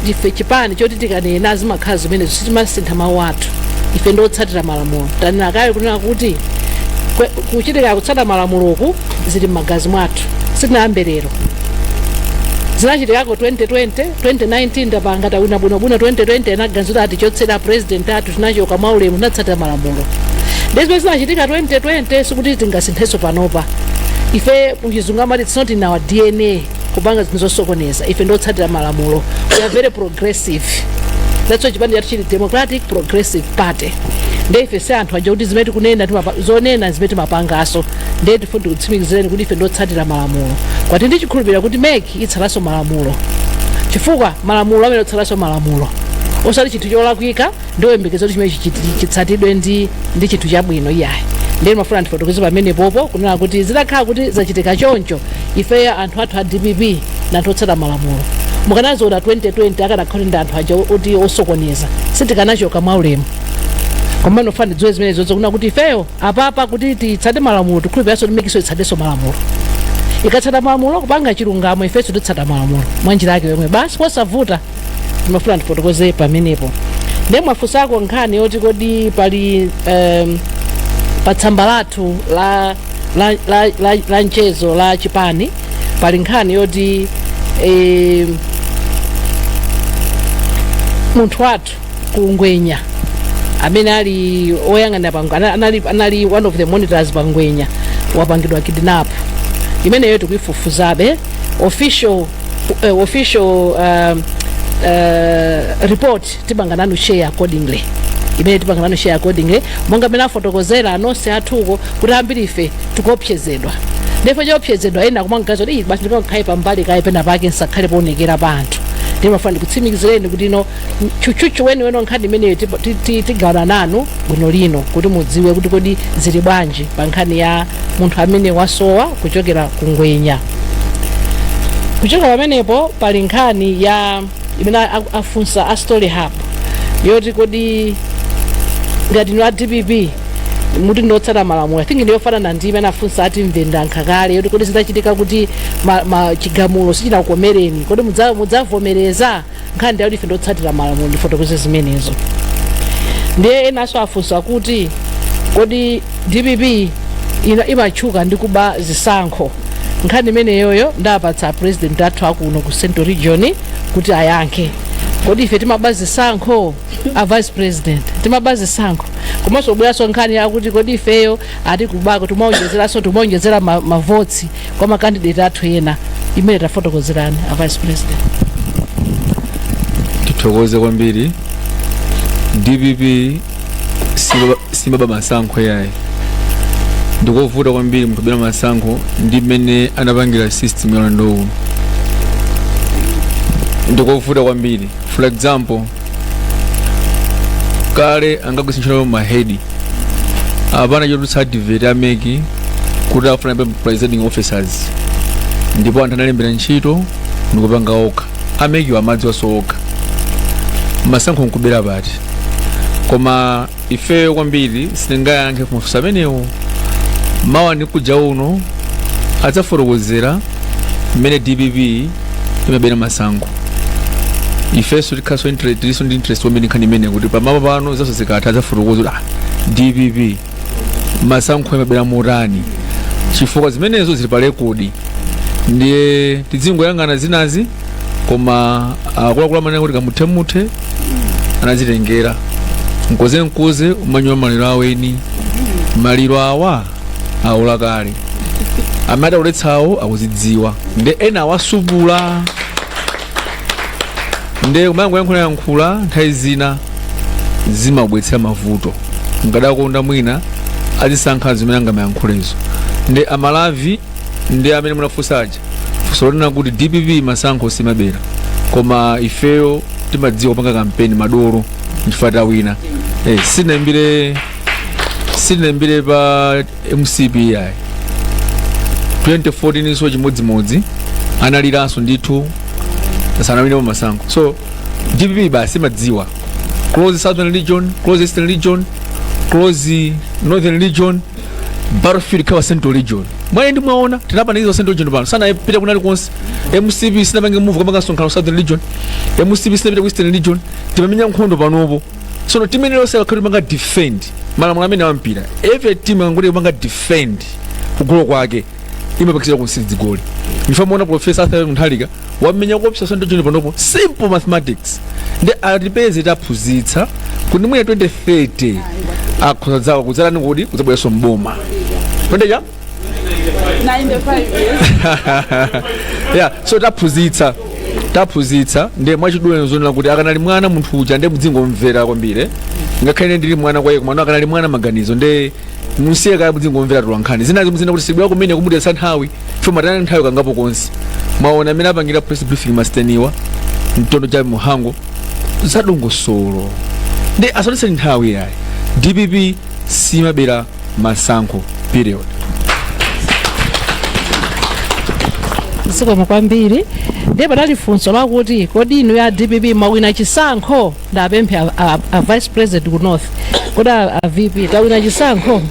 Speaker 1: ife chipani choti tikanena zimakhala zimenezo sitimasintha mawu athu ife ndiotsatira malamulo tanena kale kunena kuti kwe- kuchitika kutsatira malamuloku zili m'magazi mwathu sitinayambe lero zinachitikako 2020 2019 titapanga tawina bwinobwino 2020 anaganizira atichotsera president athu tinachoka mwaulemu tinatsatira malamulo ndezimene zinachitika 2020 sikuti tingasinthenso panopa ife kuchizungu amati it's not in our dna kupanga zinthu zosokoneza ife ndiotsatira malamulo we are very progressive that's why chipani chathu chili democratic progressive party nde ife si anthu aja kuti zimene tikunena timapa- zonena zimene timapanganso nde tifuna tikutsimikizireni kuti ife ndiotsatira malamulo kwathu ndikukhulupirira kuti mec itsatanso malamulo chifukwa malamulo amene otsatanso malamulo osati chinthu cholakwika ndioyembekeza kuti chimene chichiti- chitsatidwe ndi ndi chinthu chabwino iyayi ndiye ndimafuna ndifotokoze pamenepopo kunena kuti zitakhala kuti zachitika choncho ifeyo anthu athu a dpp ndi anthu otsata malamulo mukanazionanso 2020 akanakhala ndi anthu aja oti osokoneza sitikanachoka mwaulemu komano ndimafuna mudziwe zimenezozo kunena kuti ifeyo apapa kuti titsate malamulo tikhulupiriranso kuti mec nso itsatenso malamulo ikatsata malamulo kupanga chilungamo ifenso titsata malamulo mwa njira yake yomwe basi posavuta ndimafuna ndifotokoze pamenepo nde mwafunsako nkhani yoti kodi pali um, pa tsamba lathu la, la, la, la, la mchezo la chipani pali nkhani yoti eh, munthu wathu ku ngwenya amene ali oyang'anira pa Ngwe- ana- anali, anali one of the monitors pa ngwenya wapangidwa kidnap imeneyo tikuifufuzabe official, uh, official um, uh, report tipanga nanu share accordingly imene tipanga nanu share accordingly monga amene afotokozera anonse athuko kuti ambiri ife tikuopsezedwa ndipo chifukwa choopsezedwa ena kumangoti kuti basi ndikakhale pambali kaye pena pake ndisakhale poonekera pa anthu ndimafuna ndikutsimikizireni kuti ino tchutchutchu weniweni wa nkhani imeneyo tipo- ti- ti- tigawana nanu bwino lino kuti mudziwe kuti kodi zili bwanji pa nkhani ya munthu amene wasowa kuchokera ku ngwenya kuchokera pamenepo pali nkhani ya imene a- afunsa a story hub yoti kodi ngati inu a dpp muti ndiotsata malamulo I think ndiyofanana ndi imene afunsa ati mvenda nkhakale yoti kodi zitachitika kuti ma, ma chigamulo sichinakukomereni kodi mudza- mudzavomereza nkhani yakuti ife ndi otsatira malamulo ndifotokoze zimenezo ndiye enanso afunsa kuti kodi dpp ina imatchuka ndi kuba zisankho nkhani imeneyoyo ndapatsa a president athu akuno ku central region kuti ayankhe kodi ife timaba zisankho a vice president timaba zisankho komanso kubweranso nkhani yakuti kodi ifeyo ati kubako timaonjezeranso timaonjezera ma- mavoti kwa makandideti athu ena imene tafotokozerani a vice president tithokoze kwambiri dpp siba- simaba masankho yayi ndikovuta kwambiri munthu kubera masankho ndi mmene anapangira system ya ulendo uno ndikovuta kwambiri for example kale ankagwiritsa ntchito mahedi apanawo chotulutsa advert a MEC kuti akufuna ma presiding officers ndipo anthu analembera ntchito ndikupanga okha a MEC-wo amadziwanso okha masankho nkubera pati koma ifeyo kwambiri sitingayankhe kumafunso amenewo mwina ndikujauno adzafotokozera mmene dpp imabera masankho ifenso tikhalenso interest tilinso ndi interest kwambiri nkhani imene kuti pamawa pano zonse zikatha adzafotokoza kuti ah, dpp masankho imabera motani chifukwa zimenezo zili pa rekodi ndiye tidzingoyang'ana zinazi koma akuluakulu amanena kuti kamuthemuthe anadzitengera nkuzinkuzi umalinda maliro aweni maliro awa aola kale amene adawoletsawo akudzidziwa nde ena awasupulula nde umangoyankhulayankhula nthawi zina zimabwetsera mavuto nkadakonda mwina azisankha zimene angamayankhulezo nde a Maravi ndi amene munafunsa aja zonena kuti dpp masankho simabera koma ifeyo timadziwa kupanga kampeni madolo chifukwa tawina eh, sinaimbire sinaimbire pa mcp ayi 2014 so chimodzimodzi analiranso ndithu sanawinepo masankho so dpp basi imadziwa close southern region close eastern region close northern region battlefield ikhala central region mwayi ndiye mwaona tinapanikiza central region pano sanapita kwina kulikonse mcp sinapange move kukapanga msonkhano southern region mcp sinapita ku eastern region timamenya nkhondo panopo tsono timu iliyonse ikamapanga defend malamulo amene awampira every team ikangoti ipanga defend kugolo kwake imapachikidwa nsiwiri zigoli ndiye tamuona profesa arthur mutharika wamenya koopsa ndiye chani panopo simple mathematics ndi atipeze taphunzitsa kuti mwina 2030 akhoza kudza kudzatani kodi kudzabweranso m'boma pa age ya 95 years. yeah so taphunzitsa taphunzitsa ndiye mwachidule zonena kuti akanali mwana munthu uja ndiye muzingomumvera kwambiri ngakhale ine ndili mwana kwa iye komano akanali mwana maganizo ndiye mumusiye kaye muzingomumvera atolankhani zinazi muzinena kuti sibwera kumene kumutayitsa nthawi chomatayana nthawi kangapo konse mwaona amene apangira press briefing mwasiteni wa mtondo cha muhango zadongosolo ndiye asatitayitse nthawi yayi dpp simabera masankho period zikomo kwambiri ndiye padali funso lakuti kodi inu a dpp mwawina chisankho ndapemphe a, a, a vice president ku north kodi a, a vp tawina chisankho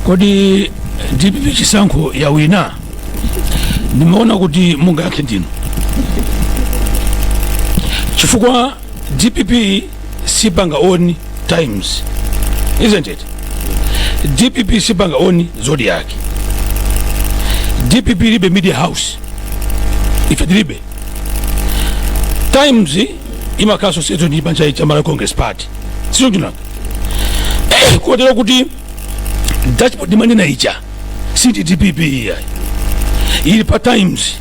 Speaker 1: kodi dpp chisankho yawina ndimaona kuti amene mungayankhe ndinu chifukwa dpp sipanga on times isn't it dpp sipanga on zodiac dpp ilibe media house ife tilibe times imakhala associated ndi chipani cha malawi congress party si choncho nanga kotero kuti dashboard mumanena ija siya dpp iyayi ili pa times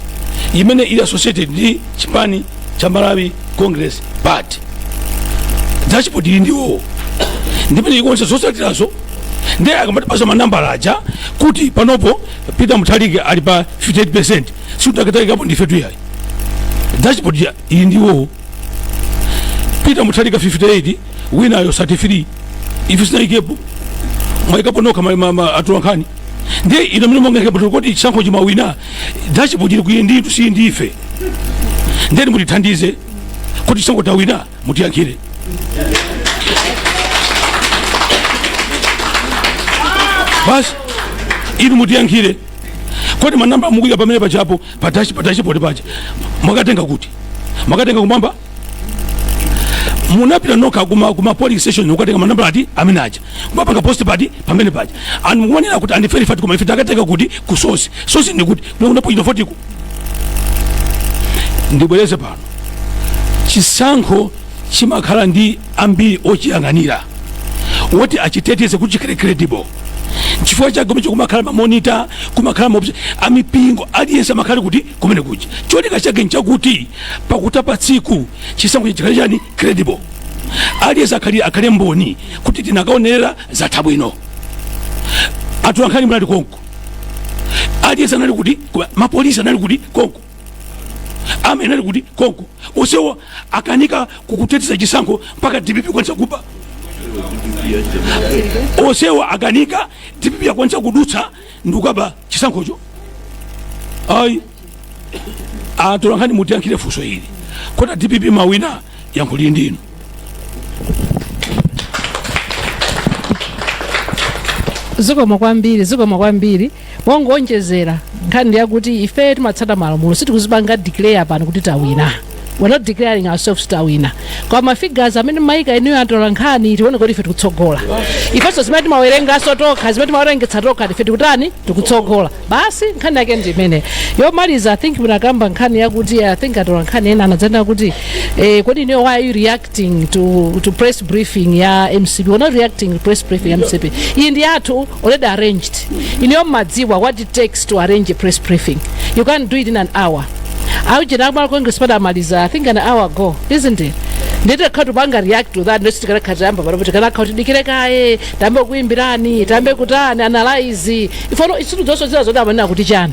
Speaker 1: imene ili associated ndi chipani cha malawi congress party dashboard ili ndi iwo ndimene ikuonetsa zosatirazo ndiye akamatipasa manambala aja kuti panopo peter mutharika ali pa 58 sitidakaikapo ndifetu iyayi dashboard yaika ndi iwo peter mutharika 58 winayo 33 ife sitinayikepo mwayikapo nokha ma- ma- ma- atolankhani ndiye inu amene mwangoikapo zokuti chisankho chi mwawina dashboard ili kwa inu nditu si ndife nde inu mutithandize kuti chisankho tawina mutiyankhire basi inu mutiyankhire kodi manamba mukuika pamene pajapo pa dash pa dashboard paja mwakatenga kuti mwakatenga kumwamba munapita nokha kuma kuma polling station n'kukatenga manambala amene aja kumapanga post pamene paja and mukumanena kuti and verified koma ife takatenga kuti ku source source ndi kuti kuma polling ndikufotokoza ndibwereze pano chisankho chimakhala ndi ambiri ochiyang'anira woti achiteteze kuti chikhale credible chifukwa chake kumene kumakhala mamonita kumakhala maobserver amipingo aliyense amakhala kuti kumene kuja cholinga chake nchakuti pakutha pa tsiku chisankho chikhale chani credible aliyense akhale akhale mboni kuti tinakaonerera zatha bwino atolankhani munali konko aliyense anali kuti mapolisi anali kuti konko a MEC anali kuti konko onsewo akanika kukuteteza chisankho mpaka dpp kukwanitsa kuba osewa akanika dpp yakwanitsa kudutsa ndikukaba chisankhocho ayi atolankhani mutiyankhire funso ili kuti a dpp mwawina yankho lili ndinu zikomo kwambiri zikomo kwambiri mongowonjezera nkhani ndi yakuti ife timatsata malamulo sitikuzipanga declare pano kuti tawina we're not declaring ourselves tawina kwa mafigures amene mwaika inuyo atolankhani tikuona kuti ife tikutsogola ifenso zimene timawerenganso tokha zimene timawerengetsa tokha ife tikutani tikutsogola basi nkhani yake ndi imeneyo yomaliza i think munakamba nkhani yakuti i think atolankhani ena anadzanena kuti eh, kodi inuyo why are you reacting to, to press briefing ya mcp we're not reacting to press briefing ya mcp iyi ndi yathu already arranged inuyo mmadziwa what it takes to arrange a press briefing you can't do it in an hour aujeni a malawi congress party amaliza i think an hour ago isn't it nde tikanati tipange react to that nde kuti tikanakhala tikuyamba panopo tikanakhala kuti tidikire kaye tiyambe kuimbirani tiyambe kutani analyze ifeyo sitikudziwanso zina zoti amanena kuti chani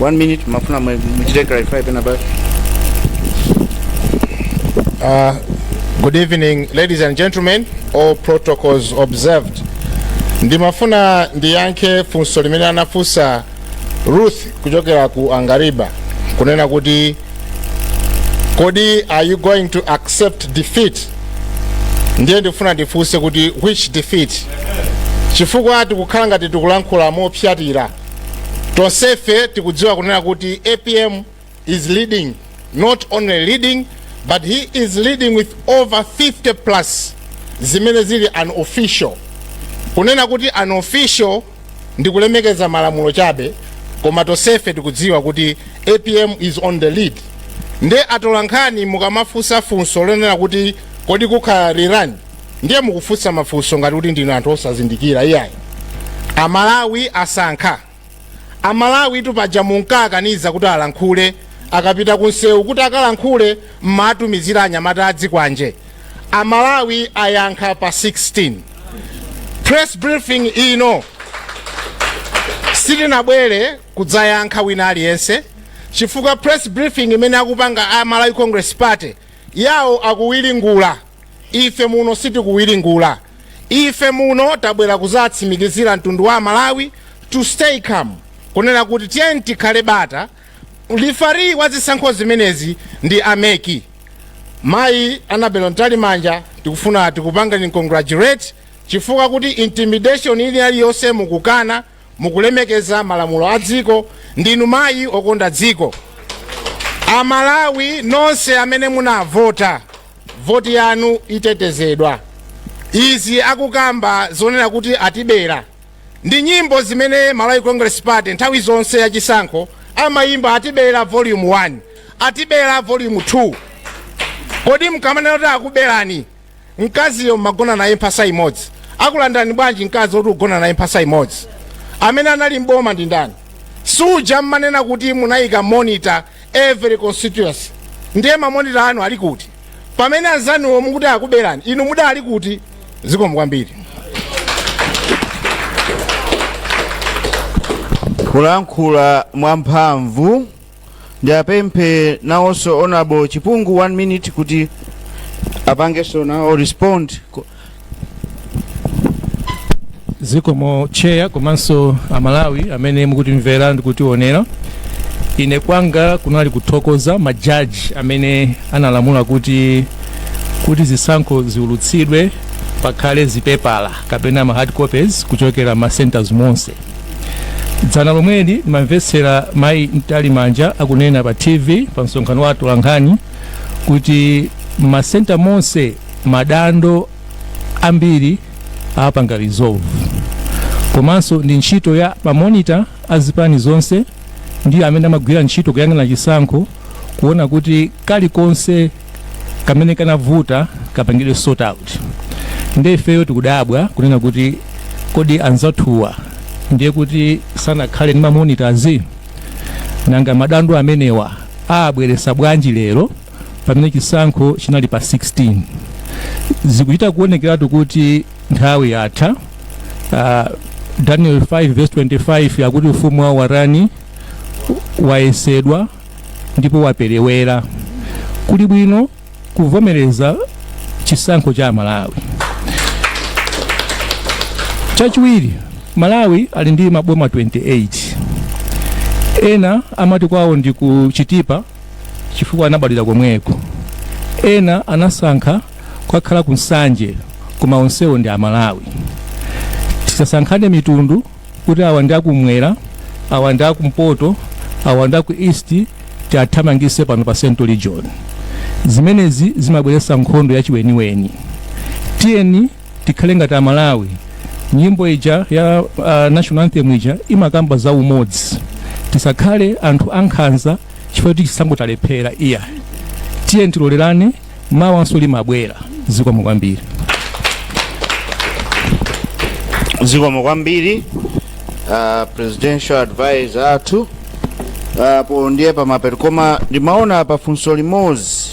Speaker 1: one minute ndimafuna mwe- muchite clarify pena pake Uh, good evening, ladies and gentlemen, all protocols observed. Ndimafuna ndiyankhe funso limene anafunsa Ruth kuchokera ku Angaliba kunena kuti kodi are you going to accept defeat? Ndiye ndikufuna ndifunse kuti which defeat? Chifukwa tikukhala ngati tikulankhula mopsyatira tonsefe tikudziwa kunena kuti apm is leading not only leading but he is leading with over 50 plus zimene zili unofficial kunena kuti unofficial ndi kulemekeza malamulo chabe koma tonsefe tikudziwa kuti apm is on the lead nde atolankhani mukamafunsa funso lonena kuti kodi kukhala rerun ndiye mukufunsa mafunso ngati kuti ndinu anthu osazindikira iyayi amalawi asankha amalawi tu paja munkawakaniza kuti alankhule akapita kunsewu kuti akalankhule mmatumizira anyamata azikwanje amalawi ayankha pa 16 press briefing ino sitinabwere kudzayankha wina aliyense chifukwa press briefing imene akupanga a malawi congress party Yawo akuwiringula, ife muno sitikuwiringula. Ife muno tabwera kuzatsimikizira mtundu wa aMalawi to stay calm, kunena kuti tiyeni tikhale bata, referee wa zisankho zimenezi ndi a mec. Mayi Annabel Mtalimanja tikufuna tikupangeni congratulate chifukwa choti intimidation ili yaliyonse mukukana. mukulemekeza malamulo a dziko ndinu mayi okonda dziko amalawi nonse amene munavota voti yanu itetezedwa izi akukamba zonena kuti atibera ndi nyimbo zimene malawi congress party nthawi zonse yachisankho amayimba atibera volume 1 atibera volume 2 kodi mkamanena kuti akuberani mkaziyo mmagona naye mphasa imodzi akulandani bwanji mkazi oti ukugona naye mphasa imodzi amene anali mboma ndi ndani suja mmanena kuti munayika monitor every constituency ndiye mamonita anu ali kuti pamene anzanuwo mukuti akuberani inu mudali kuti zikomo kwambiri kulankhula mwamphamvu ndiapemphe nawonso honorable chipungu one minute kuti apangenso nawo respond ku- zikomo cheya komanso amalawi amene mukutimvera ndi kutionera ine kwanga kunali kuthokoza majaji amene analamula kuti kuti zisankho ziulutsidwe pakhale zipepala kapena ma hard copies kuchokera ma centers monse dzana lomweli ndimamvetsera mayi mtalimanja akunena pa tv pa msonkhano wa atolankhani kuti masenta monse madando ambiri apanga resolve komanso ndi ntchito ya mamonita a zipani zonse ndi amene amagwira ntchito kuyang'ana chisankho kuona kuti kalikonse kamene kanavuta kapangidwe sort out nde ifeyo tikudabwa kunena kuti kodi anzathuwa ndiye kuti sanakhale ndi mamonitazi nanga madando amenewa abweresa bwanji lero pamene chisankho chinali pa 16 zikuchita kuonekeratu kuti nthawi yatha uh, daniel 5 verse 25 akuti ufumu wawo watani wayesedwa ndipo waperewera kuli bwino kuvomereza chisankho cha amalawi chachiwiri malawi ali ndi maboma 28 ena amati kwawo ndi ku chitipa chifukwa anabadwira komweko ena anasankha kukakhala ku nsanje koma onsewo ndi amalawi tisasankhane mitundu kuti awa ndi akumwera awa ndi akumpoto awa ndi aku east tiathamangise pano pa central region zimenezi zimabweretsa nkhondo yachiweniweni tiyeni tikhale ngati amalawi nyimbo ija ya uh, national anthem ija imakamba za umodzi tisakhale anthu ankhanza chifukwa kuti chisankho talephera iyayi tiyeni tilolerane mawanso limabwera zikomo kwambiri zikomo kwambiri uh, presidential advisor athu apo ndiye pamapeto koma ndimaona pali funso limodzi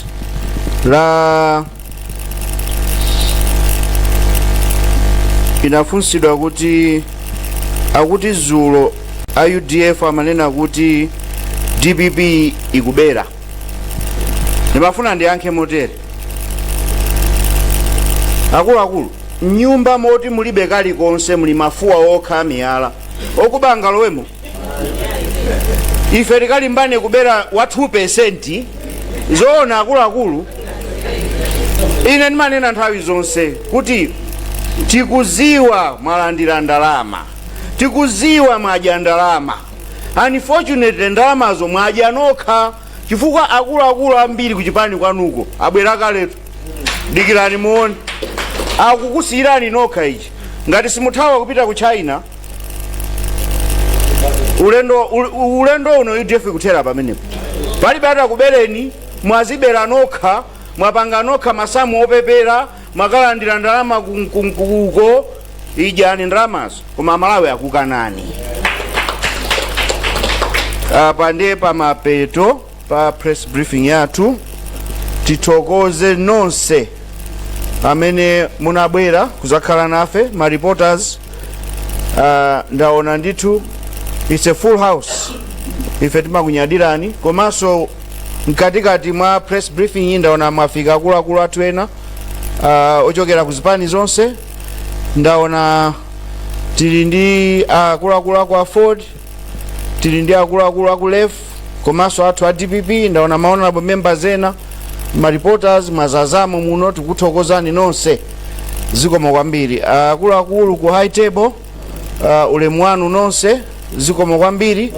Speaker 1: linafunsidwa kuti akuti zulo a udf amanena kuti dpp ikubera ndimafuna ndiyankhe motere akuluakulu mnyumba moti mulibe kalikonse muli mafuwa okha amiyala okuba angalowemo ife tikalimbane kubera wa 2 percent zoona akuluakulu ine ndimanena nthawi zonse kuti tikuziwa mwalandira ndalama tikuziwa mwadya ndalama unfortunately ndalamazo mwadya nokha chifukwa akuluakulu ambiri kuchipani kwanuko abwera kaletu dikirani muone akukusiyirani nokha ichi ngati simuthawa nkupita ku china ulendo ul- ulendo uno udf kuthera pamenepo palibe atakubereni mwazibera nokha mwapanga nokha masamu opepera mwakalandira ndalama ku- ku- ku- uko idyani ndalamazo koma amalawi akukanani apa ndiye pamapeto pa press briefing yathu tithokoze nonse amene munabwera kuzakhala nafe ma reporters uh, ndaona ndithu it's a full house ife timakunyadirani komanso mkatikati mwa press briefing iyi ndaona mwafika akuluakulu athu ena uh, ochokera ku zipani zonse ndaona tili ndi akuluakulu aku aford tili ndi akuluakulu aku lef komanso athu a dpp ndaona ma honorable members ena ma reporters mwazazamo muno tikuthokozani nonse zikomo kwambiri akuluakulu ku high table uh, ulemu wanu nonse zikomo kwambiri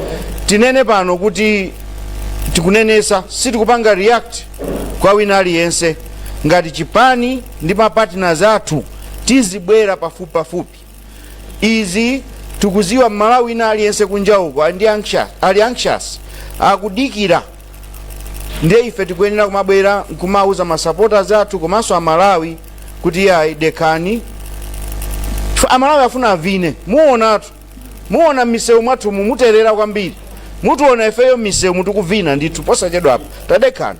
Speaker 1: tinene pano kuti tikunenesa sitikupanga react kwa wina aliyense ngati chipani ndi mapartners athu tizibwera pafupi pafupi izi tikuziwa mmalawi wina aliyense kunja uko ali anxious akudikira ndiye ife tikuyenera kumabwera nkumauza masupporters athu komanso amalawi kuti yayi dekhani amalawi afuna avine muonatu muona mmisewu mwathu mumuterera kwambiri mutiona ifeyo mmisewu mutikuvina ndithu posachedwapa tadekhani